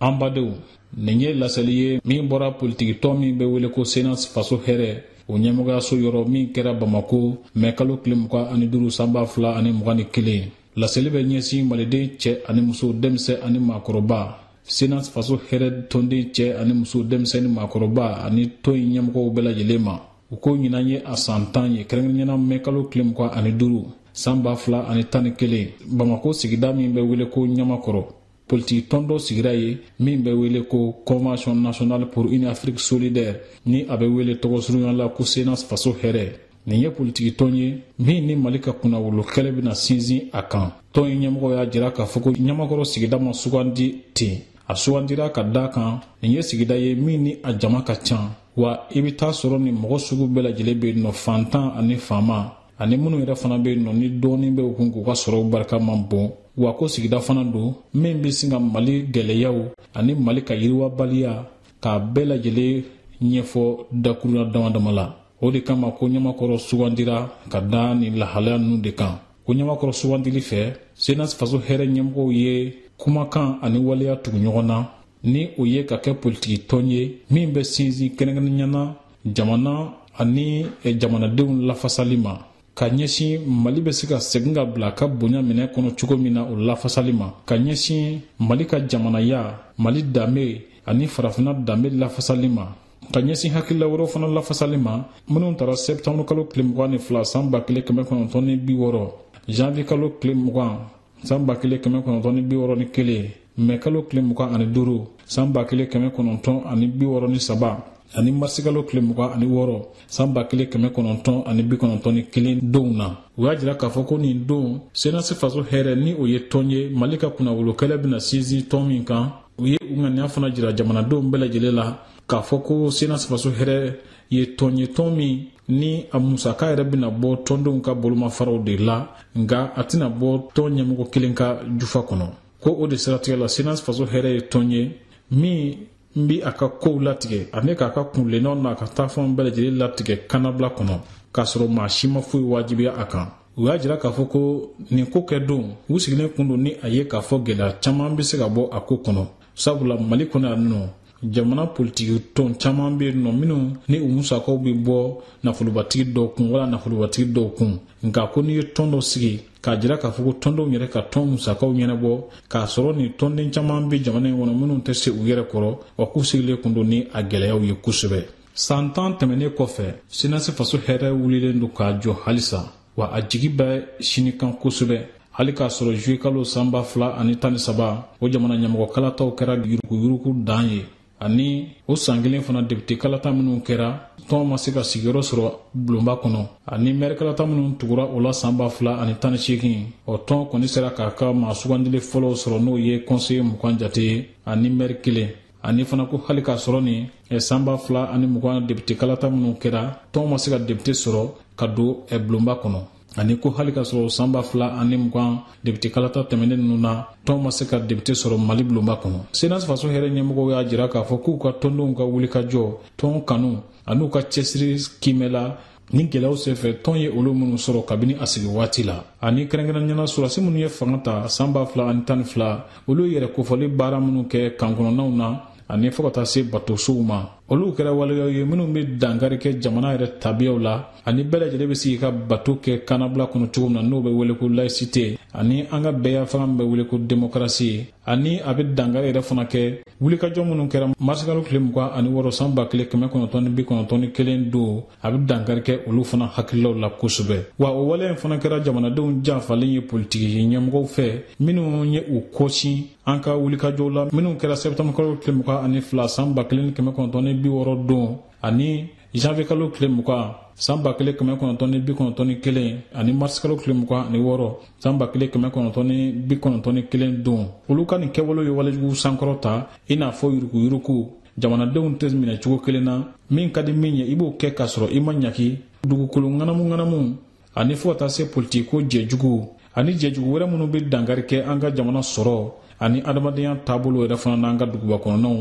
an badenw nin ye laseli ye min bɔra politikitɔn min bɛ wele ko senas faso hɛrɛ o ɲɛmɔgɔyaso yɔrɔ min kɛra bamako mɛ kalo tile mugan ani duuru san ba fila ani mugan ni kelen laseli bɛ ɲɛsin maliden cɛ ani muso denmisɛn ani maakɔrɔba senas faso hɛrɛ tɔnden cɛ ani muso denmisɛn ni maakɔrɔba ani tɔn in ɲɛmɔgɔw bɛɛ lajɛlen ma u ko ɲinan ye a san tan ye kɛrɛnkɛrɛnnenya na mɛ kalo tile mugan ani duuru san ba fila ani tan ni kelen bamako sigida min bɛ wele ko ɲamakɔrɔ politiki tɔn dɔ sigira yen min bɛ wele ko convention nationale pour une afrique solidaire ni a bɛ wele tɔgɔsurunya la ko senas faso hɛrɛ nin ye politiki tɔn ye min ni mali ka kunnawolo kɛlɛ bɛna sinsin a kan tɔn in ɲɛmɔgɔ y'a jira k'a fɔ ko ɲamakɔrɔ sigida ma sugandi ten a sugandira ka da a kan nin ye sigida ye min ni a jama ka ca wa i bɛ t'a sɔrɔ ni mɔgɔ sugu bɛɛ lajɛlen bɛ nɔ fantan ani faama ani minnu yɛrɛ fana bɛ nɔ ni dɔɔnin bɛ u kun k'u ka sɔrɔw barika man bon wa ko sigida fana don min bɛ se ka mali gɛlɛyaw ani mali ka yiriwabaliya k'a bɛɛ lajɛlen ɲɛfɔ dakurunya damadama la o de kama ko ɲamakɔrɔ sugandira ka da nin lahalaya ninnu de kan ko ɲamakɔrɔ sugandili fɛ senas faso hɛrɛ ɲɛmɔgɔw ye kumakan ani waleya tugu ɲɔgɔn na ni o ye ka kɛ politiki tɔn ye min bɛ sinsin kɛrɛnkɛrɛnnenya na jamana ani jamanadenw lafasali ma ka ɲɛsin mali bɛ se ka segin ka bila a ka bonya minɛn kɔnɔ cogo min na o lafasali ma ka ɲɛsin mali ka jamanaya mali danbe ani farafina danbe lafasali ma ka ɲɛsin hakilila wɛrɛw fana lafasali ma minnu tara sɛtanburukalo tile mugan ni fila san ba kelen kɛmɛ kɔnɔntɔn ni bi wɔɔrɔ janvier kalo tile mugan san ba kelen kɛmɛ kɔnɔntɔn ni bi wɔɔrɔ ni kelen mɛ kalo tile mugan ani duuru san ba kelen kɛmɛ kɔnɔntɔn ani bi wɔɔrɔ ni saba ani marisikalo tile mugan ani wɔɔrɔ san ba kelen kɛmɛ kɔnɔntɔn ani bi kɔnɔntɔn ni kelen donw na u y'a jira k'a fɔ ko nin don senasi faso hɛrɛ ni o ye tɔn ye mali ka kunnawolokɛlɛ bɛna sinsin tɔn min kan u ye u ŋaniya fana jira jamanadenw bɛɛ lajɛlen la k'a fɔ ko senasi faso hɛrɛ ye tɔn ye tɔn min ni a musaka yɛrɛ bɛna bɔ tɔndenw ka bolomafaraw de la nka a tɛna bɔ tɔn ɲɛmɔgɔ kelen ka jufa kɔnɔ ko o de siratigɛ la senas faso hɛrɛ ye tɔn ye min bɛ a ka kow latigɛ ani k'a ka kuntilennaw n'a ka taafanw bɛɛ lajɛlen latigɛ kannabila kɔnɔ k'a sɔrɔ maa si ma foyi wajibiya a kan u y'a jira k'a fɔ ko nin ko kɛ don u sigilen kun don ni a ye k'a fɔ gɛlɛya caman bɛ se ka bɔ a ko kɔnɔ sabula mali kɔnɔ yan nɔ jamana politiki tɔn caman bɛ yen nɔ minnu ni u musakaw bɛ bɔ nafolobatigi dɔ kun wala nafolobatigi dɔw kun nka ko n'i ye tɔn dɔ sigi k'a jira k'a fɔ ko tɔndenw yɛrɛ ka tɔn musakaw ɲɛnabɔ k'a sɔrɔ nin tɔnden caman bɛ jamana in kɔnɔ minnu tɛ se u yɛrɛ kɔrɔ wa k'u sigilen kun don ni a gɛlɛyaw ye kosɛbɛ san tan tɛmɛnnen kɔfɛ senasi faso hɛrɛ wulilen don ka jɔ halisa wa a jigi bɛ sini kan kosɛbɛ hali k'a sɔrɔ juye kalo san ba fila ani tan ni saba o jamana ɲɛmɔgɔ kalataw kɛra yuruguyurugu dan ye ani o san kelen fana depite kalata minnu kɛra tɔn ma se ka sigiyɔrɔ sɔrɔ bulonba kɔnɔ ani mɛri kalata minnu tugura o la san ba fila ani tan ni seegin o tɔn kɔni sera k'a ka maa sugandili fɔlɔw sɔrɔ n'o ye kɔnseye mugan jate ye ani mɛri kelen ani fana ko hali k'a sɔrɔ nin eh, san ba fila ani mugan depite kalata minnu kɛra tɔnw ma se ka depite sɔrɔ ka don eh, bulonba kɔnɔ ani ko hali k'a sɔrɔ san ba fila ani mugan depite kalata tɛmɛnen ninnu na tɔn ma se ka depite sɔrɔ mali bulonba kɔnɔ senasi faso hɛrɛ ɲɛmɔgɔw y'a jira k'a fɔ k'u ka tɔndenw ka wulikajɔ tɔn kanu an'u ka cɛsiri kiimɛla ni gɛlɛyaw senfɛ tɔn ye olu minnu sɔrɔ kabini a sigi waati la ani kɛrɛnkɛrɛnnenya la sɔrɔdasi minnu ye fanga ta san ba fila ani tan ni fila olu yɛrɛ kofɔli baara minnu kɛ kan kɔnɔnaw na ani fo ka taa se batosow ma olu kɛra waleyaw ye minnu be dankari kɛ jamana yɛrɛ tabiyaw la ani bɛɛ lajɛlen be sigi ka bato kɛ kannabila kɔnɔ cogo min na n'o be wele ko laisite ani an ka bɛɛya fanga min be wele ko demokarasi ani a bɛ dankari yɛrɛ fana kɛ wulikajɔ minnu kɛra marsikalo tile mugan ani wɔɔrɔ san ba kelen kɛmɛ kɔnɔntɔn ni bi kɔnɔntɔn ni kelen don a bɛ dankari kɛ olu fana hakililaw la kosɛbɛ wa o waleya in fana kɛra jamanadenw janfalen ye politiki ɲɛmɔgɔw fɛ minnu ye u kɔsin an ka wulikajɔw la minnu kɛra sɛtanburukalo tile mugan ani fila san ba kelen ni kɛmɛ kɔnɔntɔn ni bi wɔɔrɔ don ani janvier kalo tile mugan san ba kelen kɛmɛ kɔnɔntɔn ni bi kɔnɔntɔn ni kelen ani mars kalo tile mugan ani wɔɔrɔ san ba kelen kɛmɛ kɔnɔntɔn ni bi kɔnɔntɔn ni kelen don olu ka nin kɛwalew ye walejugu sankɔrɔta i n'a fɔ yuruguyurugu jamanadenw tɛ minɛ cogo kelen na min ka di min ye i b'o kɛ k'a sɔrɔ i ma ɲangi dugukolo ŋanamuŋanamu ani fo ka taa se politikiko jɛjugu ani jɛjugu wɛrɛ minnu bɛ dankari kɛ an ka jamana sɔrɔ ani adamadenya taabolo yɛrɛ fana n'an ka duguba kɔnɔnaw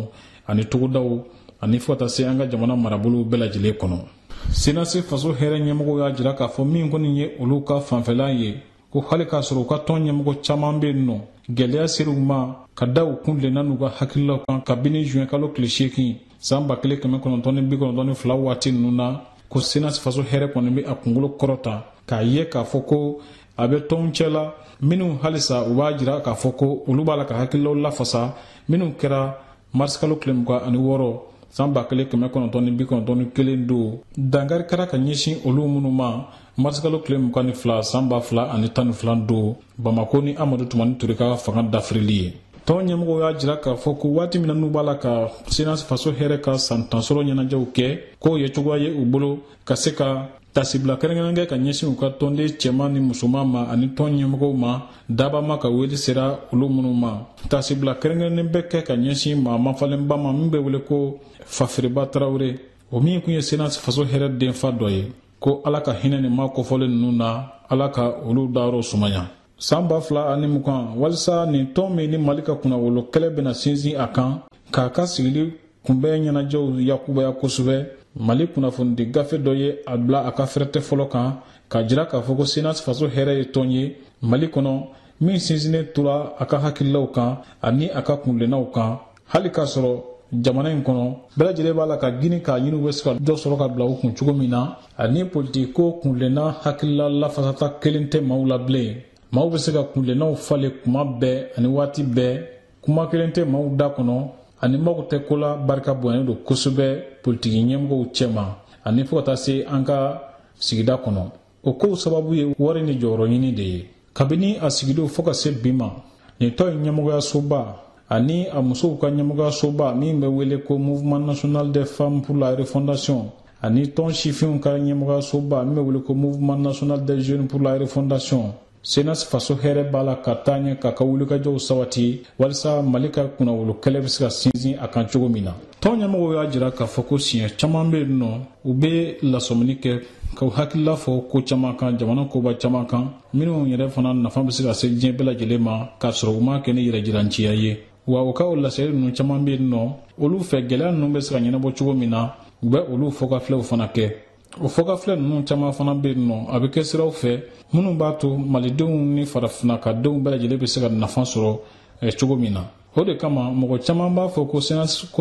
ani togodaw ani fo ka taa se an ka jamana marabolow bɛɛ lajɛlen kɔnɔ senasi faso hɛrɛ ɲɛmɔgɔw y'a jira k'a fɔ min kɔni ye olu ka fanfɛla ye ko hali k'a sɔrɔ u ka tɔn ɲɛmɔgɔ caman bɛ yen nɔ gɛlɛya sera u ma ka da u kuntilenna n'u ka hakililaw kan kabini zuwɛnkalo tile seegin san ba kelen kɛmɛ kɔnɔntɔn ni bi kɔnɔntɔn ni fila waati ninnu na ko senasi faso hɛrɛ kɔni bɛ a kunkolo kɔrɔta k'a ye k'a fɔ ko a bɛ tɔnw cɛ la minnu halisa u b'a jira k'a fɔ ko olu b'a la ka hakililaw lafasa minnu kɛra marisikalo tile mugan ani wɔɔrɔ san ba kelen kɛmɛ kɔnɔntɔn ni bi kɔnɔntɔn ni kelen don dankari kɛra ka ɲɛsin olu minnu ma marisikalo tile mugan ni fila san ba fila ani tan ni fila don bamakɔ ni amadu tumani ture ka fanga dafirili ye tɔn ɲɛmɔgɔw y'a jira k'a fɔ ko waati min na n'u b'a la ka senasi faso hɛrɛ ka san tan sɔrɔ ɲɛnajɛw kɛ k'o ye cogoya ye u bolo ka se ka tasibila kɛrɛnkɛrɛn kɛ ka ɲɛsin u ka tɔnden cɛman ni musoman ma ani tɔn ɲɛmɔgɔw ma dabaa ma ka wele sera olu minnu ma tasibila kɛrɛnkɛrɛnnen bɛ kɛ ka ɲɛsin maa mafalenba ma min bɛ wele ko fafiriba tarawure o min tun ye senasi faso hɛrɛ denfa dɔ ye ko ala ka hinɛ nin maa kofɔlen ninnu na ala ka olu dayɔrɔ sumaya san ba fila ani mugan walisa nin tɔn min ni mali ka kunnawolo kɛlɛ bɛna sinsin a kan k'a ka sigili kunbɛn ɲɛnajɛw yakubaya kosɛbɛ mali kunnafonidi gafe dɔ ye a bila a ka fɛrɛtɛ fɔlɔ kan k'a jira k'a fɔ ko senas faso hɛrɛ ye tɔn ye mali kɔnɔ min sinsinnen tora a ka hakililaw kan ani a ka kunlennaw kan hali k'a sɔrɔ jamana in kɔnɔ bɛɛ lajɛlen b'a la ka gini k'a ɲini u bɛ se ka dɔ sɔrɔ ka bila u kun cogo min na ani politiko kunlenna hakilila lafasata kelen tɛ maaw la bilen maaw bɛ se ka kunlennaw falen kuma bɛɛ ani waati bɛɛ kuma kelen tɛ maaw da kɔnɔ ani mago tɛ ko la barika bonyalen don kosɛbɛ politiki ɲɛmɔgɔw cɛma ani fo ka taa se an ka sigida kɔnɔ o kow sababu ye wari ni jɔyɔrɔ ɲini de ye kabini a sigidon fo ka se bi ma nin tɔn ye ɲɛmɔgɔyasoba ani a musow ka ɲɛmɔgɔyasoba min bɛ wele ko mouvement national des femmes pour la refondation ani tɔn sifinw ka ɲɛmɔgɔyasoba min bɛ wele ko mouvement national des jeunes pour la refondation senas faso hɛrɛ b'a la ka taa ɲɛ k'a ka wulikajɔw sabati walisa mali ka kunnawolo kɛlɛ bɛ se ka sinsin a kan cogo min na tɔn ɲɛmɔgɔw y'a jira k'a fɔ ko siɲɛ caman bɛ yen nɔ u bɛ lasɔmini kɛ k'u hakilila fɔ ko caman kan jamana koba caman kan minnu yɛrɛ fana nafa bɛ se ka se diɲɛ bɛɛ lajɛlen ma k'a sɔrɔ u m'a kɛ ni yɛrɛjiranciya ye wa u ka o laseli ninnu caman bɛ yen nɔ olu fɛ gɛlɛya ninnu bɛ se ka ɲɛnabɔ cogo min na u bɛ olu fɔkafilɛw fana kɛ o fɔkafilɛ ninnu caman fana bɛ yen nɔ a bɛ kɛ siraw fɛ minnu b'a to malidenw ni farafinakadenw bɛɛ lajɛlen bɛ se ka nafa sɔrɔ cogo min na o de kama mɔgɔ caman b'a fɔ ko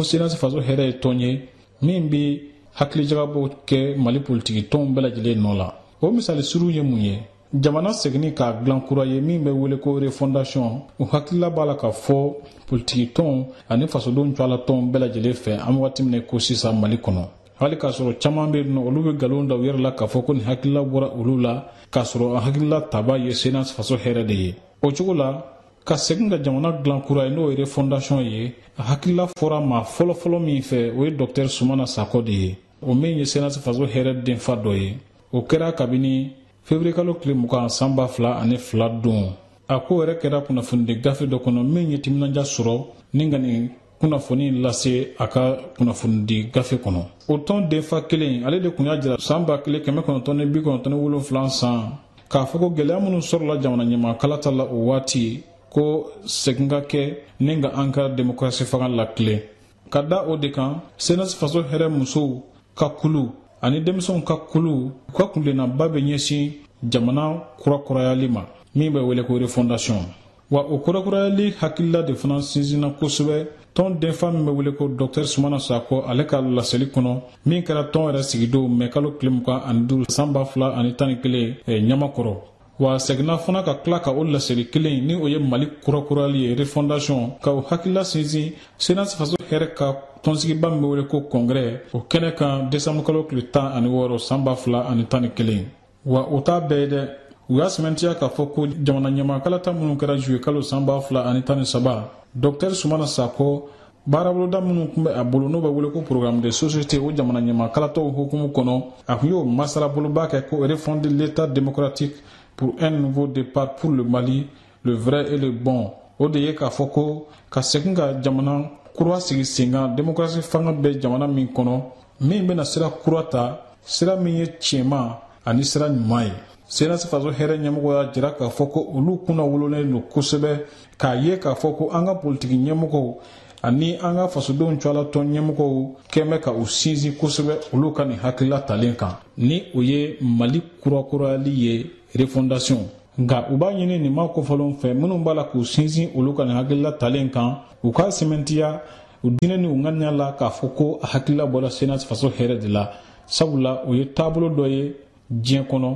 senasi faso hɛrɛ ye tɔn ye min bɛ hakilijagabɔ kɛ mali politiki tɔnw bɛɛ lajɛlen nɔ la o misali suru ye mun ye jamana seginni k'a dilan kura ye min bɛ wele ko refondation o hakilila b'a la ka fɔ politiki tɔnw ani fasodenw cɛla tɔnw bɛɛ lajɛlen fɛ an wagati min ko sisan mali kɔnɔ hali k'a sɔrɔ caman bɛ yen nɔ olu bɛ nkalon da u yɛrɛ la k'a fɔ ko nin hakilila bɔra olu la k'a sɔrɔ a hakilila taba ye senasi faso hɛrɛ de ye o cogo la ka segin ka jamana dilan kura ye n'o ye refondation ye a hakilila fɔra maa fɔlɔfɔlɔ min fɛ o ye dɔktɛr sumana sakɔ de ye o min ye senasi faso hɛrɛ denfa dɔ ye o kɛra kabini feburuyekalo tile mugan san ba fila ani fila don a ko yɛrɛ kɛra kunnafonidi gafe dɔ kɔnɔ min ye timinanja sɔrɔ ni ka nin kunnafoni lase a ka kunnafonidi gafe kɔnɔ o tɔn denfa kelen ale de kun y'a jira san ba kelen kɛmɛ kɔnɔntɔn ni bi kɔnɔntɔn ni wolonfilan san k'a fɔ ko gwɛlɛya minnu sɔrɔla jamana ɲɛmaa kalata la o waati ko segin ka kɛ ni ka an ka demokarasi fanga latilen ka da o de kan senasi faso hɛrɛ musow ka kulu ani denmisɛnw ka kulu u ka kunlennaba bɛ ɲɛsin jamana kurakurayali ma min bɛ wele ko refondation wa o kurakurayali hakilila de fana sinsinna kosɛbɛ tɔn denfa min bɛ wele ko dɔktɛr sumana sakɔ ale ka laseli kɔnɔ min kɛra tɔn yɛrɛ sigidon mɛkalo tile mugan ani duuru san ba fila ani tan ni kelen eh, ɲamakɔrɔ wa seginna fana ka tila ka o laseli kelen ni o ye mali kurakurayali ye refondation ka o hakilila sinsin senasi faso hɛrɛ ka tɔnsigiba min bɛ wele ko kɔngrɛ o kɛnɛ kan desanburukalo tile tan ani wɔɔrɔ san ba fila ani tan ni kelen wa o t'a bɛɛ ye dɛ u y'a sɛmɛntiya k'a fɔ ko jamana ɲɛmaa kalata minnu kɛra juyekalo san ba fila ani tan ni saba dɔktɛr sumana sakɔ baaraboloda minnu tun bɛ a bolo n'o bɛ wele ko programme de société o jamana ɲɛmaa kalataw hukumu kɔnɔ a tun y'o masalaboloba kɛ ko refonder l'état démocratique pour un nouveau départ pour le mali le vrai et le bon o de ye k'a fɔ ko ka segin ka jamana kura sigi sen kan demokrasi fanga bɛ jamana min kɔnɔ min bɛna sira kura ta sira min ye tiɲɛma ani sira ɲuman ye senasi faso hɛrɛ ɲɛmɔgɔw y'a jira k'a fɔ ko olu kunnawololen don kosɛbɛ k'a ye k'a fɔ ko an ka politiki ɲɛmɔgɔw ani an ka fasodenw cɛla tɔn ɲɛmɔgɔw kɛn bɛ ka u sinsin kosɛbɛ olu ka nin hakilila talen kan ni o ye mali kurakurayali ye refondation nka u b'a ɲini nin maa kofɔlenw fɛ minnu b'a la k'u sinsin olu ka nin hakilila talen kan u k'a sɛmɛntiya u diinɛ ni u ŋaniya la k'a fɔ ko a hakilila bɔra senasi faso hɛrɛ de la sabula o ye taabolo dɔ ye diɲɛ kɔnɔ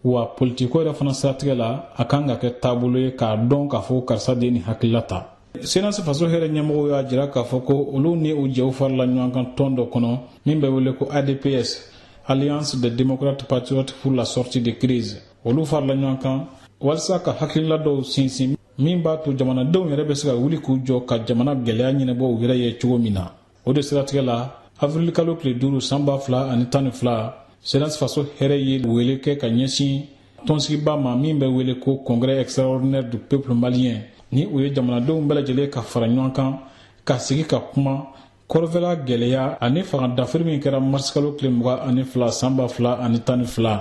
wa politikiko yɛrɛ fana siratigɛ la a kan ka kɛ taabolo ye k'a dɔn k'a fɔ ko karisa de ye nin hakilila ta senasi faso hɛrɛ ɲɛmɔgɔw y'a jira k'a fɔ ko olu ni u jɛw farila ɲɔgɔn kan tɔn dɔ kɔnɔ min bɛ wele ko adps alliance des démocrates patriotes pour la sortie de crise olu farila ɲɔgɔn kan walisa ka hakilila dɔw sinsin min b'a to jamanadenw yɛrɛ bɛ se ka wuli k'u jɔ ka jamana gɛlɛya ɲɛnabɔ u yɛrɛ ye cogo min na o de siratigɛ la avirilikalo tile duuru san ba fila ani tan ni fila senasi faso hɛrɛ ye wele kɛ ka ɲɛsin tɔnsigiba ma min bɛ wele ko congrès extraordinaire du peuple malien ni o ye jamanadenw bɛɛ lajɛlen ka fara ɲɔgɔn kan ka sigi ka kuma kɔrɔnfɛla gɛlɛya ani fanga dafiri min kɛra marisikalo tile mugan ani fila san ba fila ani tan ni fila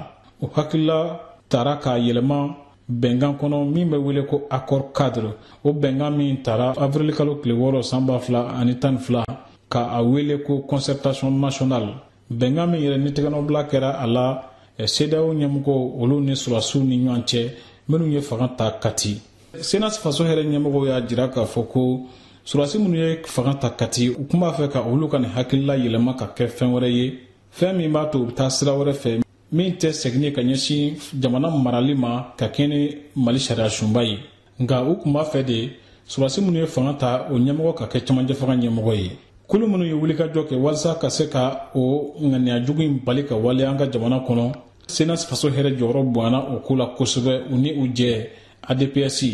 o hakilila tara k'a yɛlɛma bɛnkan kɔnɔ min bɛ wele ko accord cadre o bɛnkan min tara avirilikalo tile wɔɔrɔ san ba fila ani tan ni fila ka a wele ko concertation nationale bɛnkan min yɛrɛ ni tɛgɛnɔbila kɛra a la sedeyawo ɲɛmɔgɔw olu ni sɔrɔdasiw ni ɲɔgɔn cɛ minnu ye fanga ta kati senasi faso hɛrɛ ɲɛmɔgɔw y'a jira k'a fɔ ko sɔrɔdasi minnu ye fanga ta kati u tun b'a fɛ ka olu ka nin hakilila yɛlɛma ka kɛ fɛn wɛrɛ ye fɛn min b'a to u bɛ taa sira wɛrɛ fɛ min tɛ segin ka ɲɛsin jamana marali ma ka kɛɲɛ ni mali sariya sunba ye nka u tun b'a fɛ de sɔrɔdasi minnu ye fanga ta o ɲɛmɔgɔ ka kɛ cɛmancɛfanga ɲɛmɔgɔ ye kulu minnu ye wulikajɔ kɛ walisa ka se ka o ŋaniya jugu in bali ka waleya an ka jamana kɔnɔ senasi faso hɛrɛ jɔyɔrɔ bonyana o ko la kosɛbɛ u ni u jɛ adps